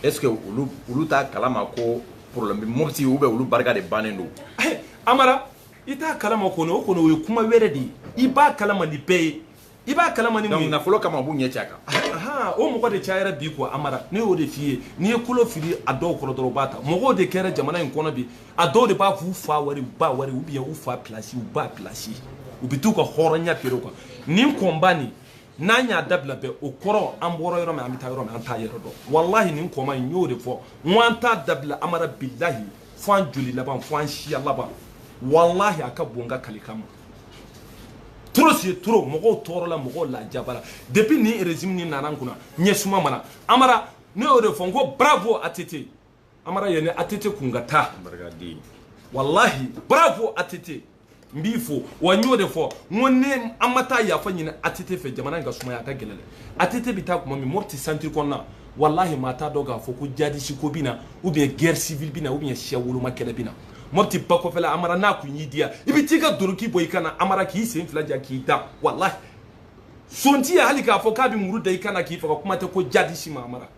est ce que olu olu t'a kalama ko problème bɛ mɔpti ou bien olu barika de bannen don eh, amara i t'a kalama kɔni o kɔni o ye kuma wɛrɛ de ye i b'a kalama ni bɛɛ ye i b'a kalama ni mun ye nafolo kama u b'u ɲɛ cɛ a kan o mɔgɔ de cayara bi quoi amara ne y'o de f'i ye n'i ye kolo fili a dɔw kɔrɔ dɔrɔn u b'a ta mɔgɔw de kɛra jamana in kɔnɔ bi a dɔw de b'a f'u fa wari u ba wari ou bien u fa pilasi u ba pilasi u bɛ t'u ka hɔrɔnya feere o kan nin combat nin n'an y'a dabila bɛɛ o kɔrɔ an bɔra yɔrɔ min an bɛ taa yɔrɔ min an t'a yɛrɛ dɔn walahi nin combat in n y'o de fɔ n ko an t'a dabila amara bilahi fo an joli laban fo an siya laban walahi a ka bon n ka kalikan ma trop c'est trop mɔgɔw tɔɔrɔla mɔgɔw lajabara depuis nin régime nin nana an kunna ɲɛsuma ma na amara ne y'o de fɔ n ko bravo ATT amara yani ATT kun ka taa walahi bravo ATT n b'i fo wa n y'o de fɔ n ko ni an ma taa yafa ɲini ATT fɛ jamana in ka sumaya a ka gɛlɛn dɛ ATT bɛ taa tuma min mopti santiri kɔnɔna walahi maa t'a dɔn k'a fɔ ko jadisi ko bɛ na ou bien guerre civile bɛ na ou bien siya woloma kɛlɛ bɛ na mopti ba kɔfɛla amara n'a kun y'i diya i bɛ t'i ka doroki bɔ i kan na amara k'i sen fila ja k'i da walahi son ti yen hali k'a fɔ k'a bɛ muru da i kan na k'i faga kuma tɛ ko jadisi ma amara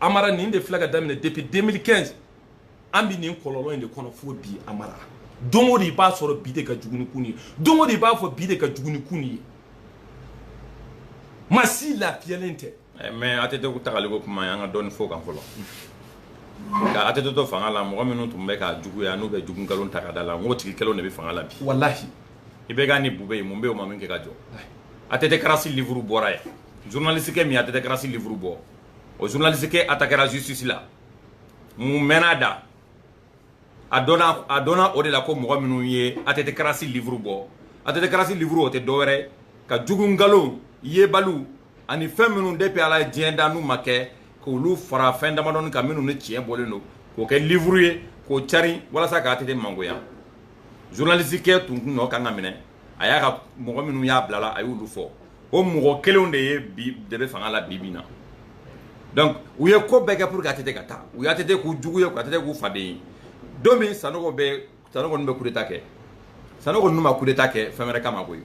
amara nin de filɛ k'a daminɛ depuis 2015 an bi nin kɔlɔlɔ in de kɔnɔ fo bi amara don o don i b'a sɔrɔ bi de ka jugu ni kunun ye don o don i b'a fɔ bi de ka jugu ni kunun ye maa si lafiyalen tɛ eh, mais atete ko tagali ko kuma an ka dɔɔni f'o kan fɔlɔ ka atete to fanga la mɔgɔ minnu tun bɛ k'a juguya n'u bɛ jugu nkalon ta k'a d'a la n k'o tigi kelenw de bɛ fanga la bi walahi IBK ni bube ye mun bɛ o ma min kɛ ka jɔ atete karasi livuru bɔra yan journaliste kɛ min atete karasi livuru bɔ o journaliste kɛ attaquéra justice la min mɛnn'a da a dɔnna o de la ko mɔgɔ minnu ye atete karasi livuru bɔ atete karasi livuru o tɛ dɔwɛrɛ kan jugu nkalon yebaliw ani fɛn minnu depuis ala ye diɲɛ da n'u ma kɛ k'olu fara fɛn damadɔni kan minnu ni tiɲɛ bɔlen don k'o kɛ livuru ye k'o cari walasa ka atete mangoya journaliste kɛ tun nɔ kan k'a minɛ a y'a ka mɔgɔ minnu y'a bil'a la a y'olu fɔ o mɔgɔ kelenw de ye bi de bɛ fanga la bi bi na donc u ye ko bɛɛ kɛ pour que atete ka taa u y'atete k'u jugu ye atete k'u faden ye don min sanogo bɛ sanogo ninnu bɛ coup d'état kɛ sanogo ninnu ma coup d'état kɛ fɛn wɛrɛ kama koyi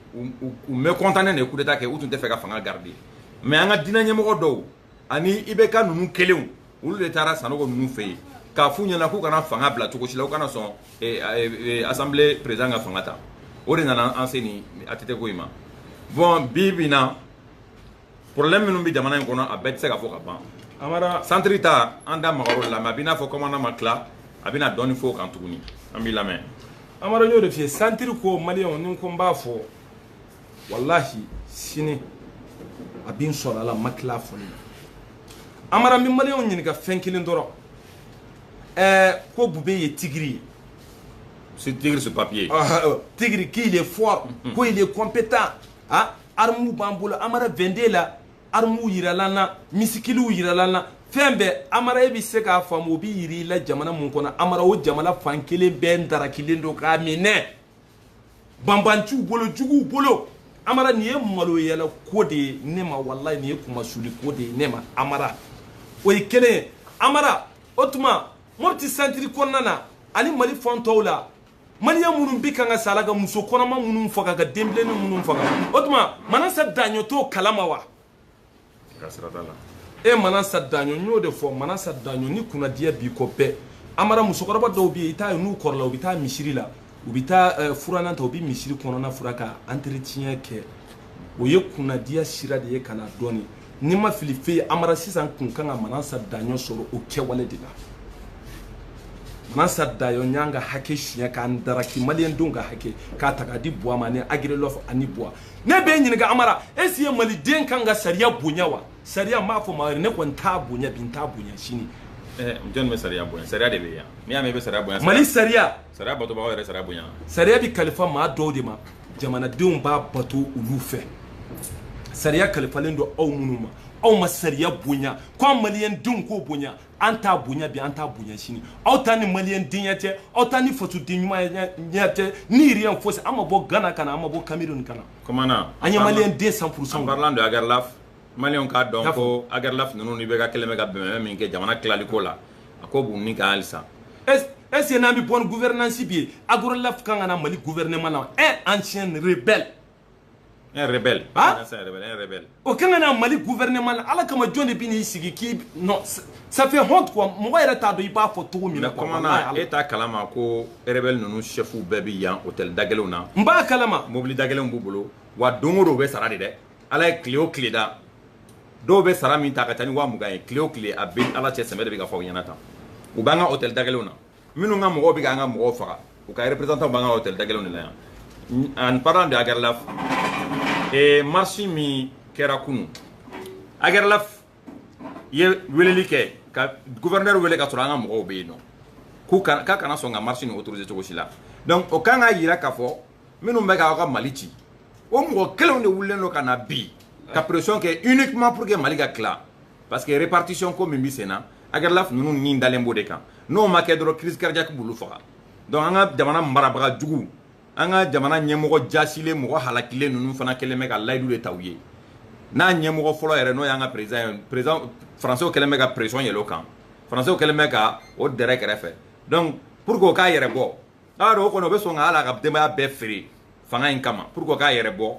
u mécontent de ye coup d'état kɛ u tun t'a fɛ ka fanga garder mais an ka diinɛ ɲɛmɔgɔ dɔw ani IBK ninnu kelenw olu de taara sanogo ninnu fɛ yen k'a f'u ɲɛna k'u kana fanga bila cogo si la u kana sɔn eh, eh, eh, assemblée président ka fanga ta o de nana an se nin atete ko in ma bon bi bi na problème minnu bɛ jamana in kɔnɔ a bɛɛ tɛ se ka fɔ ka ban amara santiri ta an da magar'o de la mais a b'i n'a fɔ commandant ma tila a bɛna dɔɔni fɔ o kan tuguni an b'i lamɛn amara n y'o de f'i ye santiri ko maliyɛnw ni ko n b'a fɔ walahi sini a bɛ n sɔrɔ a la n ma tila fɔli la amara n bɛ maliyɛnw ɲininka fɛn kelen dɔrɔn ɛɛ ko bube ye tigiri ye c'est tigre sur papier ah, euh, tigre qu'il est fort mm-hmm. ko il est compétent ah armu b'an bolo amara 22 la armuw yiral'an na misikiliw yiral'an na fɛn bɛɛ amara e bɛ se k'a faamu o bɛ yira i la jamana mun kɔnɔ amara o jamana fan kelen bɛɛ darakilen don k'a minɛ banbaanciw bolo juguw bolo amara nin ye maloyala ko de ye ne ma walayi nin ye kunmasuli ko de ye ne ma amara o ye kelen ye amara o tuma mopti santiri kɔnɔna na ani mali fan tɔw la maliyɛn minnu bi kan ka sa a la ka muso kɔnɔma minnu faga ka denbilenni minnu faga o tuma manasa daɲɔ t'o kalama wa e manasa daɲɔ n y'o de fɔ manasa daɲɔ ni kunnadiya b'i kɔ bɛɛ amara musokɔrɔba dɔw bɛ yen i t'a ye n'u kɔrɔla u bɛ taa misiri la u bɛ taa eh, furanan ta u bɛ misiri kɔnɔna furan ka entretien kɛ o ye kunnadiya sira de ye ka na dɔɔni n'i ma fili fe ye amara sisan tun kan ka manasa daɲɔ sɔrɔ o kɛwale de la manasa daɲɔ y'an ka hakɛ tiɲɛ k'an daraki maliyɛndenw ka hakɛ k'a ta k'a di buwa ma ani ag erlaf ani buwa ne b'i ɲininka amara est-ce que maliden kan ka sariya bonya wa sariya m'a fɔ maa ne kɔni t'a bonya bi n t'a bonya sini eh, jɔnni bɛ sariya bonya sariya de bɛ yan n'i y'a mɛn i bɛ sariya bonya mali sariya sariya batobagaw yɛrɛ sariya bonya sariya bɛ kalifa maa dɔw de ma jamanadenw b'a bato olu fɛ sariya kalifalen don aw minnu ma aw ma sariya bonya ko an maliyɛndenw k'o bonya an t'a bonya bi an t'a bonya sini aw ta ni mali denyɛ cɛ aw ta ni faso den ɲuman ɲɛ cɛ ni yɛrɛ yan fosi an ma bɔ gana kana an ma bɔ kamalenmiri nin kana an ye mali den san furusa don ala mali k'a dɔn ko ala f ninnu bɛ ka kelen bɛ ka bɛn min kɛ jamana tilali ko la a ko bon ni ka halisa ese n'an bɛ bɔ gupɛrnasi bi ye arla ka kan ka mali gupɛ nema na e an cre bɛɛ un rebelle ah un rebelle un rebelle o kan ka na mali gouvernement la ala kama jɔn de bi n'i sigi k'i non ça fait honte quoi mɔgɔ yɛrɛ t'a dɔn i b'a fɔ cogo min na quoi commandant e t'a kalama ko rebelle ninnu chefs bɛɛ bi yan hôtel dagɛlɛnw na n b'a kalama mobili dagɛlɛnw b'u bolo wa don o don u bɛ sara de dɛ ala ye tile o tile da dɔw bɛ sara min ta ka ca ni waa mugan ye tile o tile a bɛ ala cɛ sɛbɛ de bɛ ka fɔ aw ɲɛna tan u b'an ka hôtel dagɛlɛnw na minnu ka mɔgɔw bɛ k'an ka mɔgɔw faga u ka représentant b'an ka hôtel dagɛlɛnw de la yan en parlant de Agarlaf ee marche min kɛra kunu Agarlaf ye weleli kɛ ka gouverneur wele ka sɔrɔ an ka mɔgɔw bɛ yen nɔ k'u ka k'a kana sɔn ka marche nin autoriser cogo si la donc o kan k'a yira k'a fɔ minnu bɛ k'aw ka mali ci o mɔgɔ kelenw de wulilen don ka na bi ka pression kɛ uniquement pour que mali ka tila parce que répartition ko min bɛ sen na agarlaf ninnu ni dalen b'o de kan n'o ma kɛ dɔrɔn crise cardiaque b'olu faga donc an ka jamana marabaga jugu an ka jamana ɲɛmɔgɔ jasilen mɔgɔ halakilen ninnu fana kɛlen bɛ ka layidu de ta u ye n'a ɲɛmɔgɔ fɔlɔ yɛrɛ n'o y'an ka président ye président français kɛlen bɛ ka pression yɛlɛ o kan français kɛlen bɛ ka o dɛrɛ kɛrɛfɛ donc pour que o k'a yɛrɛ bɔ a rɔ o kɔni o bɛ sɔn ka hal'a ka denbaya bɛɛ feere fanga in kama pour que o k'a yɛrɛ bɔ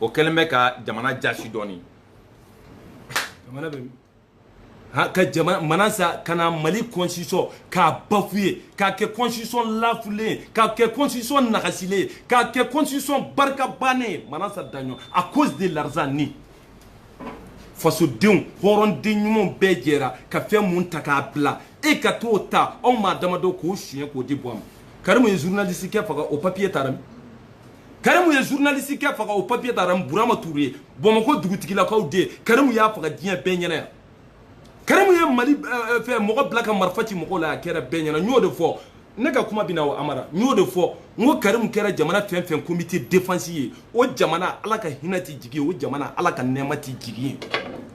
o kɛlen bɛ ka jamana jasi dɔɔni jamana bɛ ka jamana manasa ka na mali constitution k'a bafouer k'a kɛ constitution lafulen ye k'a kɛ constitution nagasilen ye k'a kɛ constitution barikabannen ye manasa daɲɔ à cause de l'argent ni fasodenw hɔrɔnden ɲumanw bɛɛ jɛra ka fɛn mun ta k'a bila e ka t'o ta aw maa damadɔ k'o suɲɛ k'o di buwa ma karimu ye journaliste kɛ faga o papier taara min karimu ye journaliste kɛ faga o papier taara min burama touré bamakɔ dugutigilakaw den karimu y'a faga diɲɛ bɛɛ ɲɛna yan karimu ye mali eh, eh, fɛ mɔgɔ bila ka marifa ci mɔgɔw la a kɛra bɛɛ ɲɛna n y'o de fɔ ne ka kuma bɛna o amara n y'o de fɔ n ko karimu kɛra jamana fɛn fɛn comité défense ye o jamana ala ka hinɛ ti jigin o jamana ala ka nɛɛma ti jigin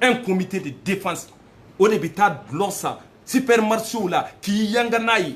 yen un comité de défense o de bɛ taa dɔlɔ san supermarché la k'i yanga n'a ye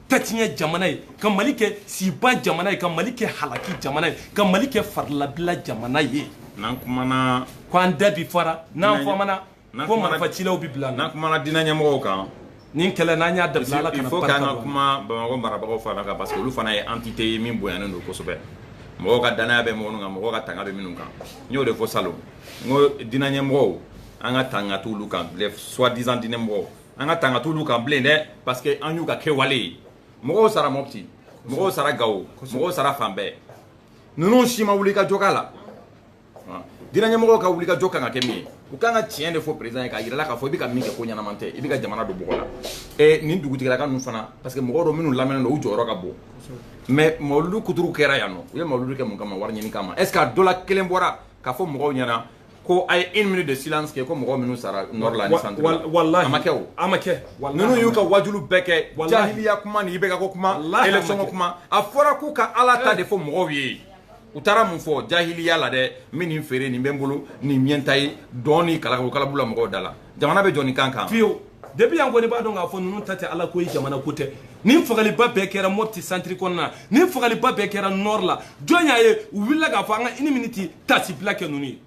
tatiɲɛ jamana ye ka mali kɛ siba jamana ye ka mali kɛ halaki jamana ye ka mali kɛ farilabila jamana ye n'an kumana ko an da bi fara n'an famana ko marifacilaw bi bila n'an kumana diinɛ ɲɛmɔgɔw kan nin kɛlɛ n'an y'a dabila ala kana barika don il faut k'an ka kuma bamakɔ marabagaw fana kan parce que olu fana ye entité ye min bonyanen don kosɛbɛ mɔgɔw ka danaya bɛ minnu kan mɔgɔw ka tanga bɛ minnu kan n y'o de fɔ salon n ko diinɛ ɲɛmɔgɔw an ka tanga t'olu kan soit disant diinɛ mɔgɔw an ka tanga t'olu kan bilen dɛ parce que an y'u ka kɛwale ye mɔgɔw sara mɔpti mɔgɔw sara gawo mɔgɔw sara fan bɛɛ ninnu si ma wuli ka jɔ k'a la diinɛ ɲɛmɔgɔw ka wuli ka jɔ kan ka kɛ min ye u kan ka tiɲɛ de fɔ président ye k'a yirala k'a fɔ i bɛ ka min kɛ ko ɲɛnama tɛ i bɛ ka jamana don bɔgɔ la ɛ nin dugutigilaka ninnu fana parce que mɔgɔw don minnu lamɛnnen don u jɔyɔrɔ ka bon mais mawuludu kuturu kɛra yan nɔ u ye mawuludu kɛ mun kama wari ɲini kama est ce que a dɔ la kelen bɔra k'a fɔ mɔgɔw ɲɛna ko a ye une minute de silence kɛ ko mɔgɔ minnu sara nord la ni centre la wallahi a ma kɛ o a ma kɛ ninnu y'u ka wajulu bɛɛ kɛ jahiliya kuma ni IBK ko kuma élection ko kuma a fɔra k'u ka ala ta de fɔ mɔgɔw ye u taara mun fɔ jahiliya la dɛ min nin feere nin bɛ n bolo nin ɲɛnta ye dɔɔni ka kalabu la mɔgɔw da la jamana bɛ jɔ nin kan kan fiyewu depuis an kɔni b'a dɔn k'a fɔ ninnu ta tɛ ala ko ye jamana ko tɛ nin fagaliba bɛɛ kɛra mopti centre kɔnɔna nin fagaliba bɛɛ kɛra nord la jɔn y'a ye u wulila k'a fɔ an ka une minute tasibila kɛ ninnu ye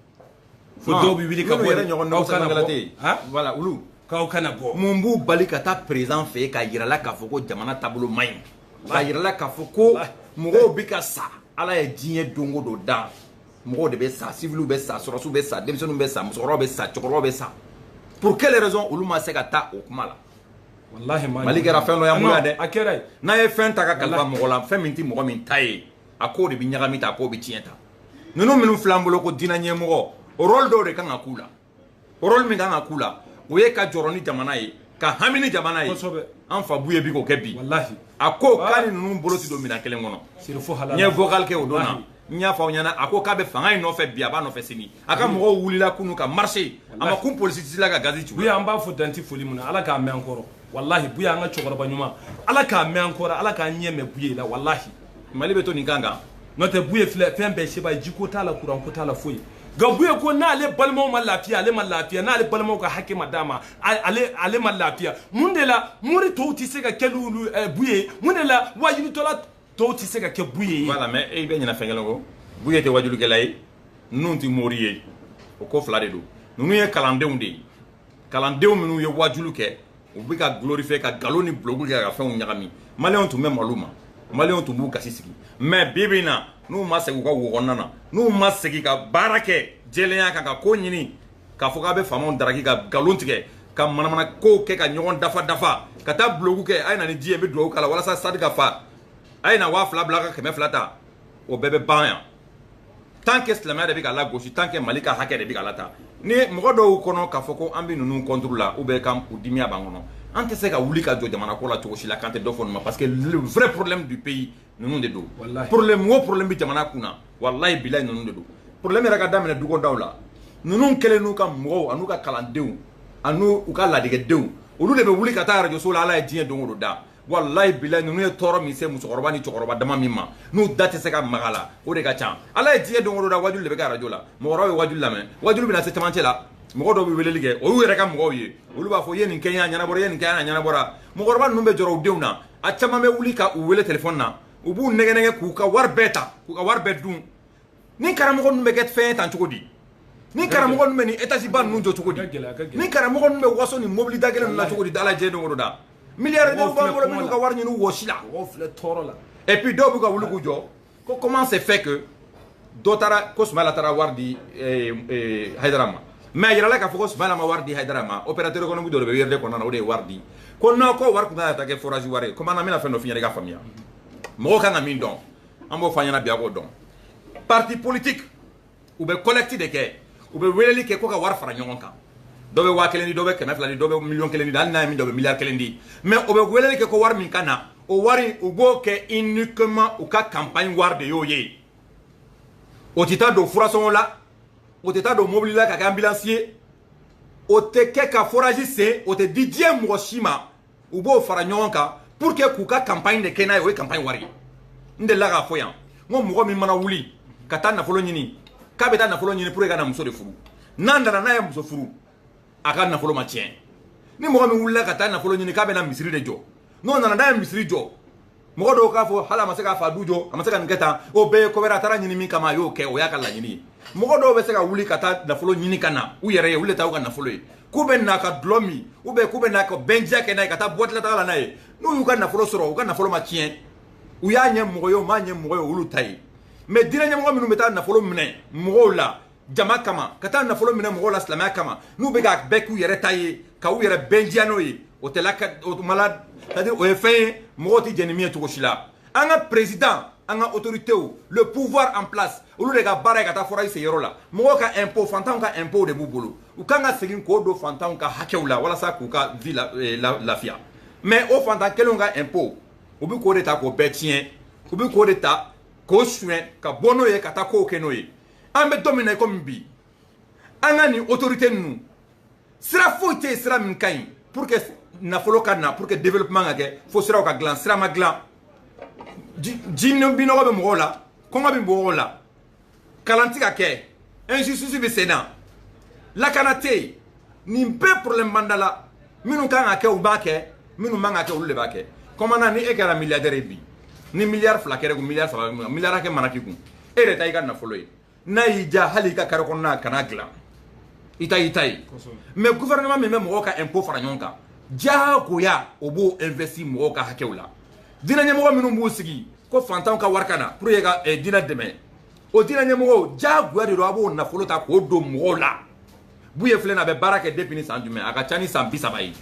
fo dɔw bɛ wuli ka bɔ yɛrɛ ɲɔgɔn dɔw kana bɔ voilà olu k'aw kana bɔ mun b'u bali ka taa président fɛ yen k'a yirala k'a fɔ ko jamana taabolo man ɲi k'a yirala k'a fɔ ko mɔgɔw bɛ ka sa ala ye diɲɛ don o don dan mɔgɔw de bɛ sa siviliw bɛ sa sɔrɔsiw bɛ sa denmisɛnninw bɛ sa musokɔrɔbaw bɛ sa cɛkɔrɔbaw bɛ sa pour quelle raison olu ma se ka taa o kuma la walahi mali kɛra fɛn dɔ y'an bolo yan dɛ a kɛra n'a ye fɛn ta ka kalifa mɔgɔ la fɛn min tɛ mɔgɔ min ta ye a kow de bɛ ɲagami tan a kow bɛ tiɲɛ tan ninnu minnu filɛ an bolo ko diinɛ ɲɛmɔgɔ o rôle dɔw de kan ka k'u la rôle min kan ka k'u la o ye ka jɔrɔ ni jamana ye ka hami ni jamana ye an fa buye bi k'o kɛ bi a ko k'a ni ninnu bolo tɛ don minɛn kelen kɔnɔ n ye vocal kɛ o don na n y'a fɔ aw ɲɛna a ko k'a bɛ fanga in nɔfɛ bi a b'a nɔfɛ sini a ka mɔgɔw wulila kunu ka marché a ma kun polisi si la ka gazi ci buye an b'a fo dan tɛ foli min na ala k'a mɛn an kɔrɔ walahi buye an ka cɛkɔrɔba ɲuman ala k'a mɛn an kɔrɔ ala k'an ɲɛ mɛn buye la walahi mali bɛ to nin kan kan n'o tɛ buye filɛ fɛn bɛɛ seba jiko t'a la kuranko t'a la foyi nka buye ko n'ale balimaw ma lafiya ale ma lafiya n'ale balimaw ka hakɛ ma d'a ma ale ma lafiya mun de la mori tɔw tɛ se ka kɛ n'olu eh, buye mun de la wajulitɔla tɔw tɛ se ka kɛ buye ye. voilà mais e bɛ ɲinɛ fɛn kelen kɔ buye tɛ wajulikɛla ye ninnu tɛ mori ye o ko fila de don ninnu ye kalandenw de ye kalandenw minnu ye wajulu kɛ u bɛ ka glorifier ka nkalon ni bulogu kɛ ka fɛnw ɲagami maliyɛnw tun bɛ malo ma maliyɛnw tun b'u gasi sigi mais bi bi in na n'u ma segin u ka wo kɔnɔna na n'u ma segin ka baara kɛ jɛlenya kan ka ko ɲini k'a fɔ k'a bɛ faamaw daraki ka nkalon tigɛ ka manamana kow kɛ ka ɲɔgɔn dafa dafa ka taa bulogu kɛ a ye na ni ji ye n bɛ dugawu k'a la walasa stade ka fa a ye na waa fila bila ka kɛmɛ fila ta o bɛɛ bɛ ban yan tant que silamɛya de bɛ ka lagosi tant que mali ka hakɛ de bɛ ka lata ni mɔgɔ dɔw kɔnɔ k'a fɔ ko an bɛ ninnu contre la ou bien ka u dimiya b'an kɔnɔ an tɛ se ka wuli ka jɔ jamana ko la cogo si la k'an tɛ dɔ fɔ nin ma parce que le vrai problème du pays ninnu de don problème o problème bɛ jamana kun na walayi bilayi ninnu de don problème yɛrɛ ka daminɛ dukɔdaw la ninnu kɛlen n'u ka mɔgɔw an'u ka kalandenw an'u ka ladegedenw olu de bɛ wuli ka taa arajoso la ala ye diɲɛ don o don da walayi bilayi ninnu ye tɔɔrɔ min se musokɔrɔba ni cɛkɔrɔba dama min ma n'u da tɛ se ka maga la o de ka ca ala ye diɲɛ don o don da wajulu de bɛ kɛ arajo la mɔgɔkɔrɔba bɛ wajulu lamɛn wajulu bɛna se camancɛ la mɔgɔ dɔw bɛ weleli kɛ o y'u yɛrɛ ka mɔgɔw ye olu b'a fɔ i ye nin kɛ n ye a ɲɛnabɔra i ye nin kɛ a ɲɛnabɔra mɔgɔkɔrɔba ninnu bɛ jɔrɔ u denw na a caman bɛ wuli ka u wele telefɔni na u b'u nɛgɛn nɛgɛn k'u ka wari bɛɛ ta k'u ka wari bɛɛ dun ni karamɔgɔ ninnu bɛ kɛ fɛn ye tan cogo di ni karamɔgɔ ninnu bɛ nin etaziba ninnu jɔ cogo di ni karamɔgɔ ninnu bɛ waso nin mobili da gɛlɛn ninnu na cogo di ala ye don o don da milliardaires b'an bolo minnu ka wari ɲini wɔsi la tɔɔrɔ la et puis dɔw bɛ ka wuli k'u jɔ ko comment c'est fait que dɔ taara ko Sumayila taara wari di eh, eh, Hayidara ma mais a yirala k'a fɔ ko Sumayila ma wari di Hayidara ma opérateur économique dɔ de bɛ URD kɔnɔna na o de ye wari di ko non ko wari tun kan ka taa kɛ forage wari ye komi an na n bɛna fɛn dɔ f'i ɲɛna i k'a faamuya mɔgɔw kan ka min dɔn an b'o fɔ a ɲɛna bi a k'o dɔn parti politique u bɛ collecte de kɛ u bɛ weleli kɛ ko ka wari fara ɲɔgɔn kan dɔ bɛ waa kelen di dɔ bɛ kɛmɛ fila di dɔ bɛ miliyɔn kelen di hali n'a ye min dɔ bɛ miliyari kelen di mais u bɛ weleli kɛ ko wari min ka na o wari u b'o kɛ uniquement u ka campagne wari de y'o ye o tɛ taa don furasɔngɔ la o tɛ taa don mobili la ka kɛ anbilansi ye o tɛ kɛ ka forazi sen o tɛ di diɲɛ mɔgɔ si ma u b'o fara ɲɔgɔn kan pour que k'u ka campagne de kɛ n'a ye o ye campagne wari ye n delila k'a fɔ yan n ko mɔgɔ min mana wuli ka taa nafolo ɲini k'a bɛ taa nafolo ɲini pour que ka na muso de furu n'a nana n'a ye muso furu a ka nafolo ma tiɲɛ ni mɔgɔ min wulila ka taa nafolo ɲini k'a bɛ na misiri de jɔ n'o nana n'a ye misiri jɔ mɔgɔ dɔw k'a fɔ hali a ma se k'a fa du jɔ a ma se ka nin kɛ tan o bɛɛ ye ko wɛrɛ a taara ɲini min kama a y'o kɛ o y'a ka laɲini ye mɔgɔ dɔw bɛ se ka wuli ka taa nafolo ɲini ka na u yɛrɛ ye olu de ta u ka nafolo ye k'u bɛ na ka dulɔ min u bɛ k'u bɛ na ka bɛnjiya kɛ n'a ye ka taa boîte la taga la n'a ye n'u y'u ka nafolo sɔrɔ u ka nafolo ma tiɲɛ u y'a ɲɛ mɔgɔ ye u m'a ɲɛ mɔgɔ ye olu ta ye mais diinɛ ɲɛmɔgɔ minnu bɛ taa nafolo minɛ mɔgɔw la jama kama ka taa nafolo minɛ mɔgɔw la silamɛya kama n'u bɛ ka bɛɛ k'u yɛrɛ ta ye ka u yɛrɛ bɛnjiya n'o ye o tɛ la o tuma la c'est-à-dire o ye fɛn ye mɔgɔw tɛ jɛn ni min ye cogo si la an ka président an ka autorités le pouvoir en place olu de ka baara ye ka taa forage sen yɔrɔ la mɔgɔw ka impôt fantanw ka impôt de b'u bolo u kan ka segin k'o don fantanw ka hakɛw la walasa k'u ka vie eh, lafiya mais o fantan kelenw ka impôt u bɛ k'o de ta k'o bɛɛ tiɲɛ u bɛ k'o de ta k'o suɲɛ ka bɔ n'o ye ka taa kow kɛ n'o ye an bɛ don min na i komi bi an ka nin autorité ninnu sira foyi tɛ yen sira min ka ɲi pour que nafolo ka na pour que développement ka kɛ fo siraw ka dilan sira ma dilan ji ji minnɔgɔ bɛ mɔgɔw la kɔngɔ bɛ mɔgɔw la kalan tɛ ka kɛ injustice bɛ sen na lakana tɛ yen nin bɛɛ problème b'an da la minnu kan ka kɛ u t'a kɛ minnu man ka kɛ olu de b'a kɛ kɔmana ni e kɛra milliardaire ye bi ni miliyari fila kɛr'i kun miliyari saba miliyari hakɛ mana k'i kun e yɛrɛ ta i ka nafolo ye n'a y'i diya hali i ka carré kɔnɔna kana dilan i ta y'i ta ye mais gouvernement min bɛ mɔgɔw ka impôt fara ɲɔgɔn kan diyagoya o b'o investir mɔgɔw ka hakɛw la diinɛ ɲɛmɔgɔ minnu b'u sigi ko fantanw ka wari ka na pour que ka eh, diinɛ dɛmɛ o diinɛ ɲɛmɔgɔw diyagoya de don a b'o nafolo ta k'o don mɔgɔw la buye filɛ na a bɛ baara kɛ depuis ni san jumɛn a ka ca ni san bi saba ye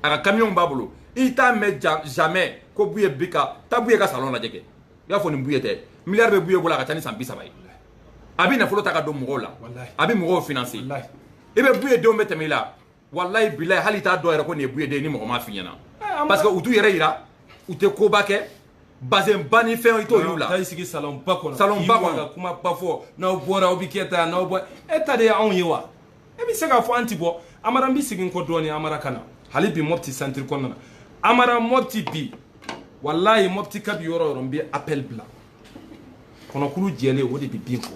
a ka kamiyɔnw b'a bolo i t'a mɛn jamais ko buye bi ka taa buye ka salon lajɛ kɛ i y'a fɔ nin buye tɛ miliyari bɛ buye bolo a ka ca ni san bi saba ye a bɛ nafolo ta ka don mɔgɔw la a bɛ mɔgɔw financer i bɛ buye denw bɛ tɛmɛ i la walayi bilayi hali i t'a dɔn yɛrɛ ko nin ye buye den ni mɔgɔ m'a f'i ɲɛna ah, parce que u t'u yɛrɛ yira u tɛ koba kɛ bazin ba ni fɛn i t'o y'u la taa i sigi salɔnba kɔnɔ salɔnba kɔnɔ ka kuma ba fɔ n'aw bɔra aw bɛ kɛ tan n'aw bɔ e ta de ye anw ye wa e bɛ se k'a fɔ an ti bɔ amara n bɛ segin kɔ dɔɔnin amara ka na hali bi mɔpti centre kɔnɔna na amara mɔpti bi walayi mɔpti kabi yɔrɔ yɔrɔ n bɛ appel bila kɔnɔkulu jɛlen o de bɛ bin fɔ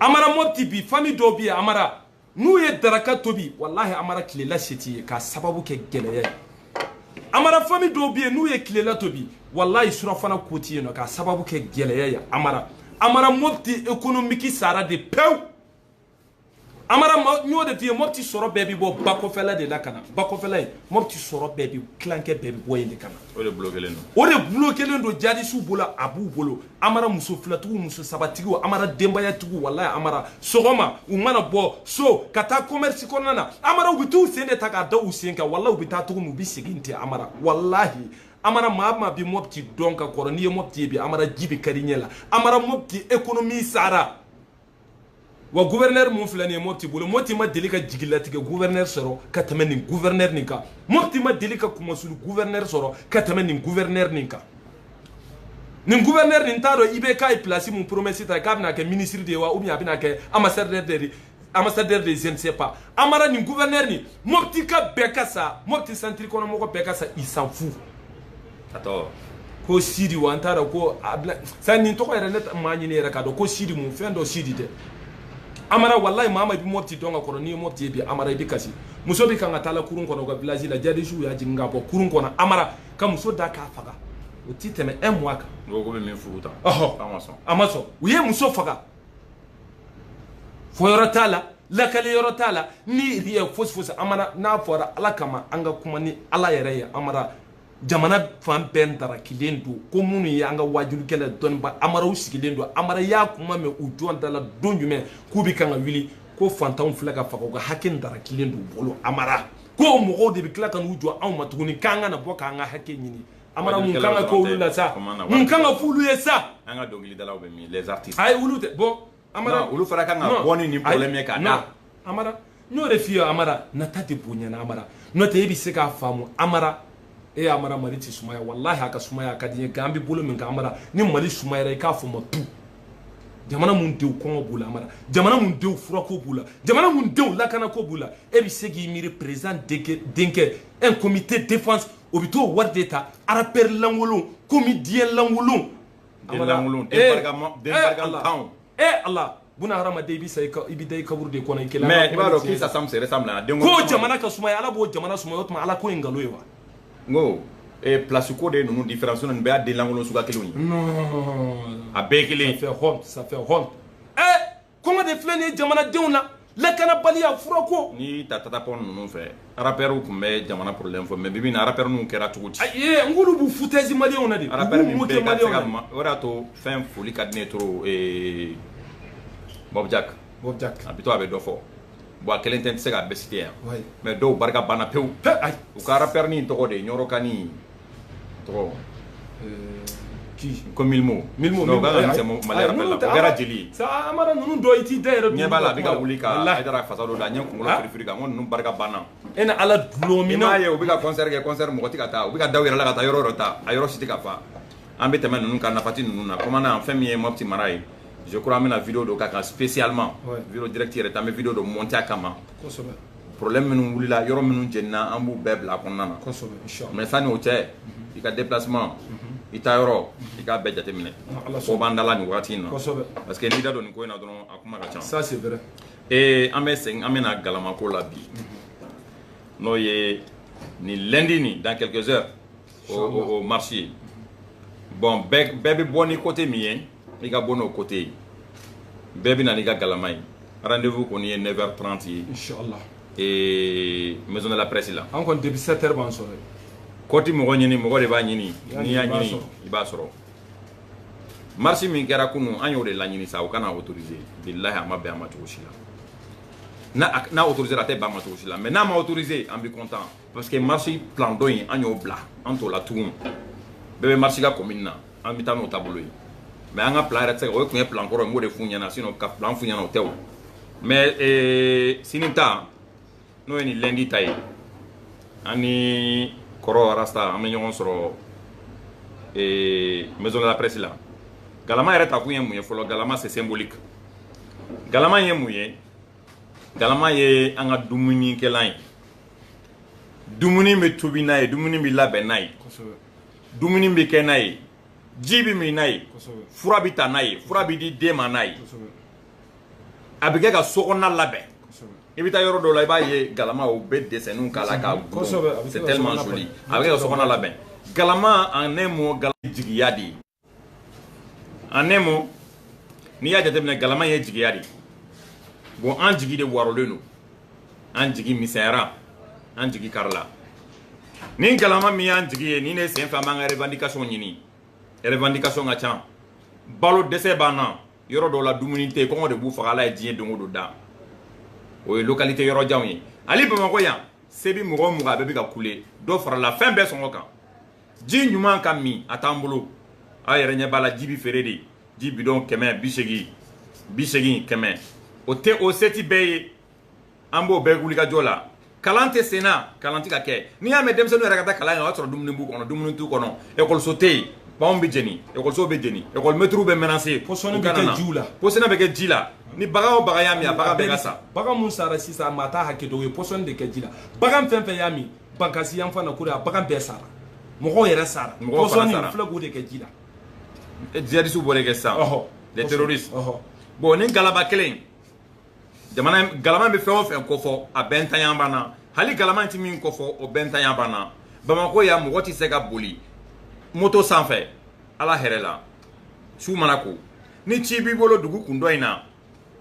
amara mɔpti bi famille dɔw bɛ yen amara n'u ye daraka tobi walahi amara tilela se t'u ye k'a sababu kɛ gɛlɛya ye amara famille dɔw bɛ yen n'u ye tilela tobi walayi surafana ko ti yen nɔ k'a sababu kɛ gɛlɛya ye amara amara mɔpti économique sara de pewu amara n y'o de f'i ye mɔputi sɔrɔ bɛɛ bɛ bɔ bakɔfɛla de la ka na bakɔfɛla ye mɔputi sɔrɔ bɛɛ bɛ tilankɛ bɛɛ bɛ bɔ yen de ka na o de bloquélen don o de bloquélen don jihadistew bolo a b'u bolo amara muso filatigiw muso sabatigiw amara denbayatigiw walayi amara sɔgɔma u mana bɔ so ka taa commerce kɔnɔna na amara u bɛ t'u sen de ta k'a da u sen kan walayi u bɛ taa cogo min u bɛ segin ten amara walahi amara maa min bɛ mɔputi dɔn ka kɔrɔ n'i ye mɔputi ye bi amara ji bɛ kar'i ɲɛ la amara mɔputi économie sara wa gouverneur mun filɛ nin ye Mopti bolo Mopti ma deli ka jigilatigɛ gouverneur sɔrɔ ka tɛmɛ nin gouverneur nin kan Mopti ma deli ka kunmasuli gouverneur sɔrɔ ka tɛmɛ nin gouverneur nin kan nin gouverneur nin t'a dɔn IBK ye place mun promesse ta k'a bɛna kɛ ministre de ye wa ou bien a bɛna kɛ ambassadeur de je ne sais pas Amara nin gouverneur nin Moptikaw bɛɛ ka sa Mopti centre kɔnɔ mɔgɔ bɛɛ ka sa il s'en fout a tɔgɔ ko sidi wa n t'a dɔn ko a bila sani nin tɔgɔ yɛrɛ ne m'a ɲini yɛrɛ k'a dɔn ko sidi mun fɛn dɔ sidi dɛ amara walayi maa min bɛ mɔpiti dɔn ka kɔrɔ n'i ye mɔpiti ye bi amara i bɛ kasi muso bɛ kan ka taa la kurun kɔnɔ u ka vilazi la jadisiw y'a jigin k'a bɔ kurun kɔnɔ amara ka muso da k'a faga o ti tɛmɛ un mois kan. n ko ko bɛ min furu ta. ɔhɔ a ma sɔn. a ma sɔn u ye muso faga fɔyɔrɔ t'a la lakali yɔrɔ t'a la rien fosi fosi amara n'a fɔra ala kama an ka kuma ni ala yɛrɛ ye amara jamana fan bɛɛ ntarakilen don ko minnu ye an ka waajulikɛla dɔnniba amara u sigilen don amara y'a kuma mɛn u jɔn da la don jumɛn k'u bɛ kan ka wuli ko fantanw filɛ ka faga u ka hakɛ ntarakilen don u bolo amara ko mɔgɔw de bɛ tila ka n'u jɔ anw ma tuguni k'an ka na bɔ k'an ka hakɛ ɲini amara mun kan ka k'olu la sa mun kan ka f'olu ye sa an ka dɔnkilidalaw bɛ min les artistes ayi olu tɛ bɔ Amara olu fana kan ka bɔ ni nin problème ye ka da Amara n y'o de f'i ye Amara nata tɛ bonya na Amara n'o tɛ e bɛ se k'a faamu Amara e Amara Mali tɛ sumaya walahi a ka sumaya a ka di n ye nka an bɛ bolo min kan Amara ni Mali sumayara i k'a fɔ n ma tout jamana mun denw kɔngɔ b'u la Amara jamana mun denw furako b'u la jamana mun denw lakanako b'u la e bɛ se k'i miiri président denkɛ un comité défense o bɛ t'o wari de ta rappeur lankolon comédien lankolon denlankolon dangaden barikantanw e ala buna hadamaden i bɛ sa i bɛ da i kaburu de kɔnɔ i kelen mais i b'a dɔn qui s'assemble se ressemble dɛ ko jamana ka sumaya ala b'o jamana sumaya o tuma ala ko ye nkalon ye wa n ko ee place ko de ninnu différence ninnu bɛɛ y'a denlankolon suguya kelenw ye a bɛɛ ye kelen ye ça fait honte ça fait honte ee kɔngɔ de filɛ nin ye jamanadenw na lakanabaliya furako n'i y'a ta tata pound ninnu fɛ arapɛriw tun bɛ jamana porolen fɔ mɛ bibi in na arapɛri ninnu kɛra cogo di n k'olu b'u futɛsi maliyɛnw na de arapɛri min bɛ ka se ka ma o y'a to fɛn foli ka di ne ye toro mɔbijak a bɛ to a bɛ dɔ fɔ bɔn a kelen tɛ n tɛ se k'a bɛɛ site yan mɛ dɔw barika banna pewu u ka arapɛri nin tɔgɔ de ye ɲɔrɔka nin tɔgɔ ko milimo milimo non k'a kan ka misɛn mali rap bɛɛ la o kɛra jeli ye sa an b'a dɔn ninnu dɔ i t'i da yɛrɛ ɲɛ b'a la a bɛ ka wuli ka hayidara fasa dɔ da a ɲɛ kunkolo firifiri kan n ko ninnu barika banna e ni ala dulon min na i m'a ye u bɛ ka kɔnsɛri kɛ kɔnsɛri mɔgɔ tɛ ka taa u bɛ ka da u yɛrɛ la ka taa yɔrɔ yɔrɔ ta a yɔrɔ si tɛ ka fa an bɛ tɛmɛ ninnu kan nafati ninnu na kɔmana fɛn min ye mɔpiti mara ye je crois an bɛna video dɔ k'a kan spécialement video direct yɛrɛ tɛ an bɛ video dɔ monter a kama kosɛbɛ problème minnu wulila yɔrɔ minnu jenina an b'u bɛɛ bila a kɔnɔna na mais sani o cɛ i ka déplacement i taa yɔrɔ i k'a bɛɛ jateminɛ ko b'an da la nin wagati in na parce que n'i da don nin ko in na dɔrɔn a kuma ka ca ça c'est vrai ee an bɛ segin an bɛ na galamako la bi n'o ye nin lundi nin dans quelques heures o marche ye bon bɛɛ bɛ bɔ ni côté min ye i ka bɔ n'o côté ye bɛɛ bɛ na n'i ka galama ye rendez-vous kɔni ye 9h30 ye inchallah ee maison de la presse la an kɔni depuis 7h b'an sɔrɔ yen ko tɛ mɔgɔ ɲini mɔgɔ de b'a ɲini n'i y'a ɲini i b'a sɔrɔ marche min kɛra kunun an y'o de laɲini sa o kana autorisé bilahi a ma bɛn an ma cogo si la n'a autorisé a tɛ bɛn an ma cogo si la mais n'a ma autorisé an bɛ content parce que marche plan dɔ in an y'o bila an t'o la tugun bɛɛ bɛ marche ka commune na an bɛ taa n'o taabolo ye mais an ka plan yɛrɛ tɛ se ka o tun ye plan kɔrɔ ye n b'o de f'u ɲɛna sinon ka plan f'u ɲɛna o tɛ o mais ee, sini ta n'o ye nin lundi ta ye an ni kɔrɔ rasta an bɛ ɲɔgɔn sɔrɔ ee, maison de la presse la galama yɛrɛ ta kun ye mun ye fɔlɔ galama c'est symbolique galama ye mun ye Galama ye an ka dumunikɛlan ye dumuni bɛ tobi n'a ye dumuni bɛ labɛn n'a ye dumuni bɛ kɛ n'a ye ji bɛ min n'a ye fura bɛ ta n'a ye fura bɛ di den ma n'a ye a bɛ kɛ ka sokɔnɔna labɛn i bɛ taa yɔrɔ dɔw la i b'a ye galama u bɛ dessinw k'a la ka c'est tellement joli a bɛ kɛ ka sokɔnɔna labɛn galama en un mot galama ye jigiya de ye en un mot n'i y'a jateminɛ galama ye jigiya de bon an jigi de waarolen don an jigi misɛnyara an jigi karila ni galama min y'an jigi ye nin de sen fɛ an b'an ka revendication ɲini revendication ka ca balo dɛsɛ b'an na yɔrɔ dɔw la dumuni tɛ kɔngɔ de b'u faga ala ye diɲɛ don o don da o ye localité yɔrɔ janw ye hali bamakɔ yan se bi mɔgɔ o mɔgɔ a bɛɛ bɛ ka kule dɔ farala fɛn bɛɛ sɔngɔ kan ji ɲuman ka min a t'an bolo aw yɛrɛ ɲɛ b'a la ji bi feere de ji bidɔn kɛmɛ bi seegin bi seegin kɛmɛ o tɛ o se tɛ bɛɛ ye an b'o bɛɛ wulikajɔ la kalan tɛ sen na kalan tɛ ka kɛ n'i y'a mɛn denmisɛnninw yɛrɛ ka taa kalan kɛ o y'a sɔrɔ dumuni b'u kɔnɔ dumuni t'u kɔnɔ ekɔliso tɛ yen banw bɛ jeni ekɔliso bɛ jeni ekɔlimɛtiriw bɛ menacé pɔsɔni bɛ kɛ jiw la pɔsɔni bɛ kɛ ji la ni bagan o bagan y'a min a bagan bɛɛ ka sa bagan min sara sisan maa t'a hakɛ dɔn u ye pɔsɔni de kɛ ji la bagan fɛn fɛn y'a min bankasi yan fan na ko de a bagan bɛɛ sara mɔgɔw yɛrɛ sara Mɔgɔw fana sara. pɔsɔni flacon de kɛ ji la djihadistes b'o de kɛ sisan ɔhɔ les terroristes ɔhɔ bon nin galama kelen jamana in- galama bɛ fɛn o fɛn kofɔ a bɛɛ ntanya b'an na hali galama tɛ min kofɔ o bɛɛ ntanya b'an na bamakɔ yan mɔgɔ tɛ se ka boli moto sanfɛ a la hɛrɛ la su mana ko ni ci b'i bolo dugu kun dɔ in na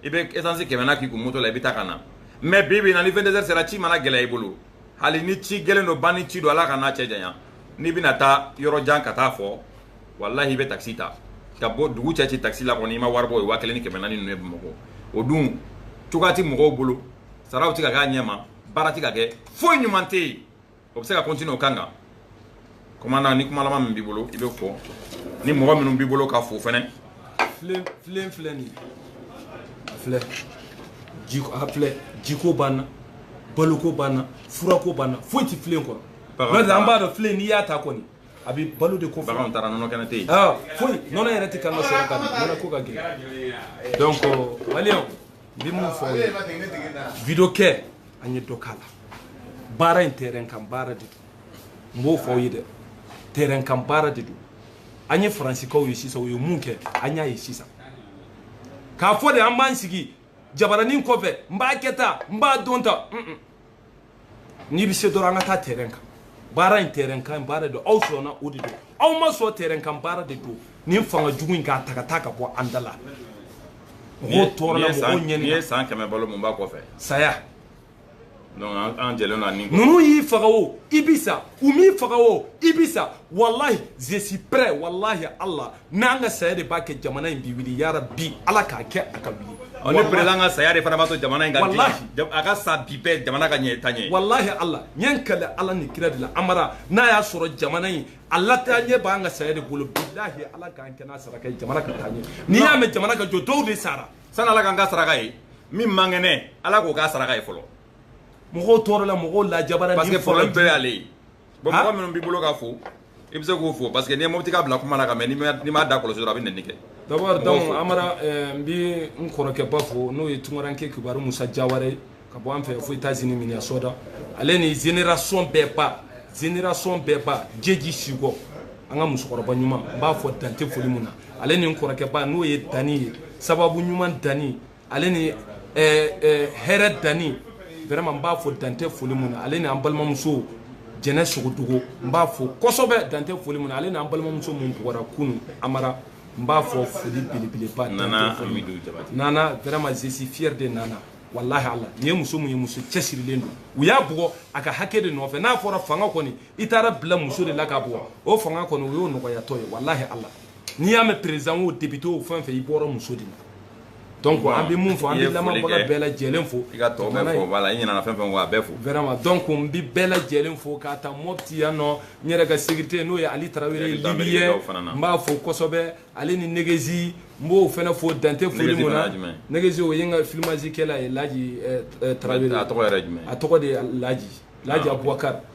i bɛ esansi kɛmɛ na k'i kun moto la i bɛ taa ka na mais bi bi na ni 22h sera ci mana gɛlɛya i bolo hali ni ci gɛlɛn don ban ni ci don ala kan'a cɛ janya n'i bɛna taa yɔrɔ jan ka taa fɔ walahi i bɛ takisi ta ka bɔ dugu cɛ ci takisi la kɔni i ma wari bɔ o ye waa kelen ni kɛmɛ naani ninnu ye bamakɔ o dun cogoya ti mɔgɔw bolo saraw ti ka k'a ɲɛma baara ti ka kɛ foyi ɲuman tɛ yen o bɛ se ka continuer o kan kan commandant ni kuma laban min b'i bolo i bɛ fɔ ni mɔgɔ minnu b'i bolo ka fo fɛnɛ filen filen filɛ nin a filɛ jiko b'an na baloko b'an na furako b'an na foyi tɛ filen kɔnɔ an b'a dɔn filen n'i y'a ta kɔni a bɛ balo de kofɔ baganw taara nɔnɔ kɛnɛ tɛ yen foyi nɔnɔ yɛrɛ tɛ kan ka sɔrɔ ka nɔnɔ ko ka gɛlɛn donc maliyɛnw n bɛ mun fɔ aw ye video kɛ an ye dɔ k'a la baara in terrain kan baara de don n b'o fɔ aw ye dɛ terrain kan baara de don an ye faransikaw ye sisan u ye mun kɛ an y'a ye sisan k'a fɔ de an b'an sigi jabaranin kɔfɛ n b'a kɛ tan n b'a dɔn tan n'i bɛ se dɔrɔn an ka taa terrain kan baara in terrain kan baara de don aw sɔnna o de don aw ma sɔn terrain kan baara de don nin fanga jugu in k'a ta ka taa ka bɔ an da la mɔgɔw tɔɔrɔla mɔgɔw ɲɛni n'i ye san kɛmɛ balo mun b'a kɔfɛ saya donc an jɛlen na ni ninnu y'i faga o i bi sa u m'i faga o i bi sa walahi je suis prêt walahi Allah n'an ka saya de b'a kɛ jamana in bi wuli yarabi ala k'a kɛ a ka wuli ɔ ni président ka saya de fana b'a to jamana in ka diya a ka sa bi bɛɛ jamana ka ɲɛ taa ɲɛ walahi ala n ye n kali ala ni kira de la amara n'a y'a sɔrɔ jamana in a la taa ɲɛ b'an ka saya de bolo bilahi ala k'an kɛ n'a saraka ye jamana ka taa ɲɛ n'i y'a mɛn jamana ka jɔ dɔw de sara sani ala k'an k'a saraka ye min man kɛnɛ ala k'o k'a saraka ye fɔlɔ mɔgɔw tɔɔrɔla mɔgɔw lajabara parce que problème bɛɛ y'ale ye bon mɔgɔ minnu b'i bolo ka fo i bɛ se k'o fo parce que n'i ye mɔbiti ka bila kuma la ka mɛ n'i m'a da kɔlɔsi dɔrɔn a bɛ nɛni kɛ d'abord donc amara eh, n bɛ n kɔrɔkɛba fo n'o ye tunkaranke kibaru musa jawara ye ka bɔ an fɛ fo états-unis minnesota ale ni génération bɛɛ ba génération bɛɛ ba jeji sikɔ an ka musokɔrɔba ɲuman n b'a fo dan tɛ foli mun na ale ni n kɔrɔkɛba n'o ye dani ye sababu ɲuman dani ale ni hɛrɛ dani vraiment n b'a fo dan tɛ foli mun na ale ni an balimamuso jɛnɛ sogodogo n b'a fo kɔsɔbɛ dan tɛ foli mun na ale n'an balimamuso min bugɔra kunun amara n b'a fo foli belebeleba nana nana vraiment je suis fier de nana walahi ala nin ye muso min ye muso cɛsirilen don u y'a bugɔ a ka hakɛ de nɔfɛ n'a fɔra fanga kɔni i taara bila muso de la k'a bugɔ o fanga kɔni o y'o nɔgɔyatɔ ye walahi ala n'i y'a mɛn président o député o fɛn fɛn i bɔra muso de la donc an bɛ mun fɔ an bɛ lamɛnbaga bɛɛ lajɛlen fo i ka tɔ bɛɛ fo voilà i ɲinɛna fɛn fɛn kɔ a bɛɛ fo vraiment donc n bɛ bɛɛ lajɛlen fo k'a ta mɔpti yan nɔ n yɛrɛ ka sécurité n'o ye ali tarawele libyen n b'a fo kosɛbɛ ale ni negezi n b'o fana fo dan tɛ foli mun na negezi o ye n ka filmage kɛla ye laji tarawele a tɔgɔ yɛrɛ jumɛn a tɔgɔ de ye laji laji abubakari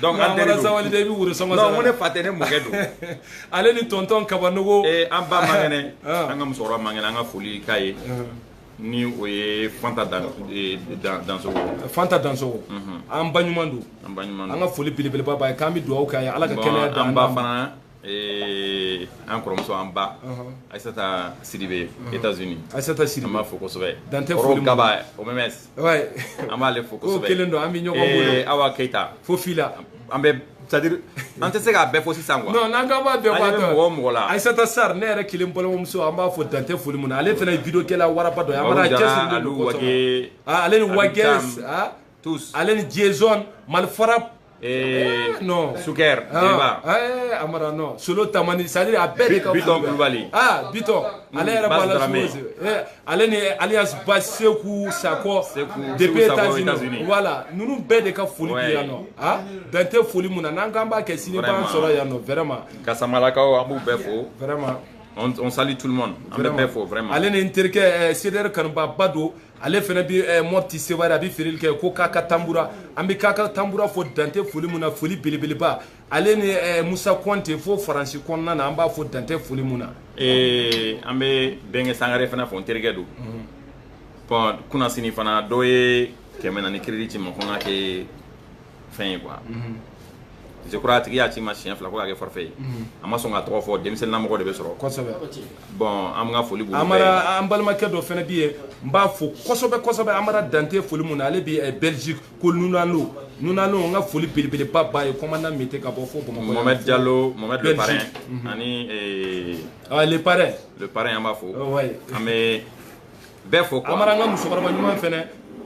Donc an teri don, an bɔra Sabalibugu i bɛ woro sɔngɔ non n ko ne fa tɛ ne mɔkɛ don, ale ni tonton kabanogo, ee an ba man kɛnɛ, ɔn, an ka musokɔrɔba man kɛnɛ an ka foli k'a ye, ɔn, ni o ye Fanta Dan ee Dan Dansogo, Fanta Dansogo, unhun, an baɲuman don, an baɲuman don, an ka foli belebeleba b'a ye k'an bɛ dugawu k'a ye Ala ka kɛnɛya d'an ma, bon an ba fana Ee an kɔrɔmuso an ba ayisata sidibe états-unis ayisata sidibe an b'a fo kosɛbɛ dan tɛ gaba o mɛ an b'ale fo kelen don an bɛ ɲɔgɔn awa keyita fo fila an bɛ c'est à dire an tɛ se k'a bɛɛ fo sisan n'an k'an b'a bɛɛ mɔgɔ mɔgɔ la ayisata sar ne yɛrɛ kelen balimamuso an b'a fo dan tɛ foli mun na ale fana vidéo kɛla waraba don ale ni wa tous ale ni jason malifara eh, non suker ah, eh, amara non solo tamani c'est à dire a bɛɛ de ka bitɔn kulubali ah bitɔn mm, ale yɛrɛ b'a la suwese eh, ale ni alias ba seku sakɔ depuis états-unis voilà ninnu bɛɛ de ka foli bi yan nɔ ah dan tɛ foli mun na n'an k'an b'a kɛ sini b'an sɔrɔ yan nɔ vraiment kasamalakaw an b'u bɛɛ fo vraiment on, on salue tout le monde an bɛ bɛɛ fo vraiment ale ni n terikɛ eh, cdr kanubaba don ale fana bɛ eh, mɔpti sewari a bɛ feereli kɛ ko kaka tanbura an bɛ kaka tanbura fo dan tɛ foli mun na foli belebeleba ale ni eh, musa kɔnte fo faransi kɔnɔna na an b'a fo dan tɛ foli mun na eh, an bɛ bɛnkɛ sangare fana fo n terikɛ don mhm. bɔn kunnasini fana dɔ ye kɛmɛ naani crédit ci ma ko n ka kɛ fɛn ye quoi mhm. je crois a tigi y'a ci ma siɲɛ fila ko k'a kɛ forfait ye mhm. a ma sɔn k'a tɔgɔ fɔ denmisɛnninlamɔgɔ de bɛ sɔrɔ kosɛbɛ bon an ka foli b'u amara an balimakɛ dɔ fɛnɛ bi ye n b'a fo kosɛbɛ kosɛbɛ amara dan tɛ foli mun na ale bi eh, belgique ko nunalo nunalo n ka foli belebeleba b'a ye commandant mete ka bɔ fo bamakɔ mohamed diallo mohamed le parrain mhm. ani eh, ah, le parrain le parrain an b'a fo oh, an bɛ bɛɛ fo quoi Amara n ka musokɔrɔba ɲuman fɛnɛ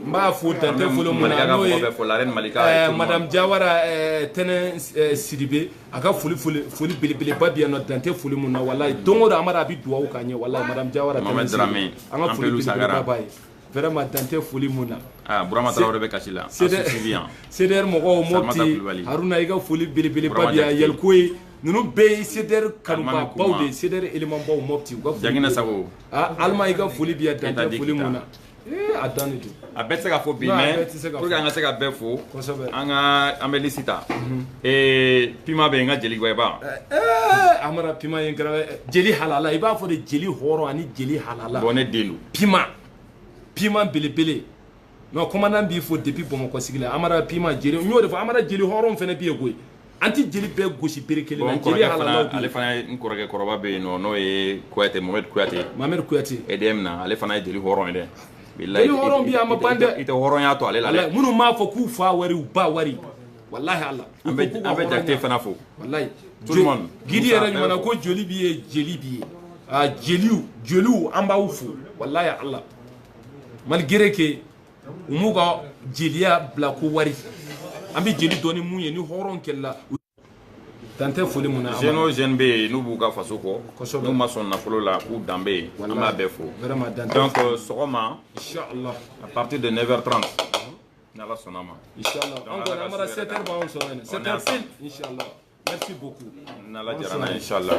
n b'a fo dan tɛ foli mun na n'o ye eh, madame Jawara eh, tɛnɛ eh, Sidibe a ka foli foli foli belebeleba bi yan nɔ dan tɛ foli mun na walayi don o don Amara a bɛ duwawu k'an ye walayi madame Jawara tɛnɛ Sidibe an ka foli belebeleba b'a ye vraiment dan tɛ foli mun na ah, Burama Tarawele bɛ kasi la CDR mɔgɔw Mopti Haruna i ka foli belebeleba bi yan Yɛliko ye ninnu bɛɛ ye cdr kanubabaw de ye cdr élémentbaw mɔpti u ka foli jagina sago aa alima i ka foli bi yan dan tɛ foli mun na a dan de don a bɛɛ tɛ se ka fɔ bi mais pour que an ka se ka bɛɛ fo kosɛbɛ an ka an bɛ liste ta ee pima bɛ yen n ka jeli gwɛba amara pima ye n kɛra jeli halala i b'a fɔ de jeli hɔrɔn ani jeli halala bon ne den don pima pima belebele non commandant b'i fo depuis bamakɔ sigi la amara pima jeli n y'o de fɔ amara jeli hɔrɔn fana bɛ yen koyi an tɛ jeli bɛɛ gosi bere kelen na jeli halalaw ale fana ye n kɔrɔkɛ kɔrɔba bɛ yen nɔ n'o ye kuyate mohamɛdi kuyate mohamɛdi kuyate edm na ale fana ye jeli hɔrɔn ye dɛ jeli hɔrɔn bi a ma ban dɛ i tɛ hɔrɔnya to ale la dɛ minnu m'a fɔ k'u fa wari u ba wari walahi ala an bɛ jakite fana fo walahi gidi yɛrɛ ɲuman ko jeli b'i ye jeli b'i ye jeliw jeliw an b'aw fo walahi ala malgré que u m'u ka jeliya bila ko wari an bɛ jeli dɔn ni mun ye ni hɔrɔn kɛlɛla dan tɛ foli mun na jeune o jeune bɛ yen n'u b'u ka faso kɔ n'u ma sɔn nafolo la k'u danbe ye an b'a bɛɛ fo donc sɔgɔma inchallah à partir de 9h30 ni ala sɔnn'a ma inchallah an kɔni an bara 7h b'anw sɔrɔ yen 7h pile inchallah merci beaucoup n'ala jɛra n'a ye inchallah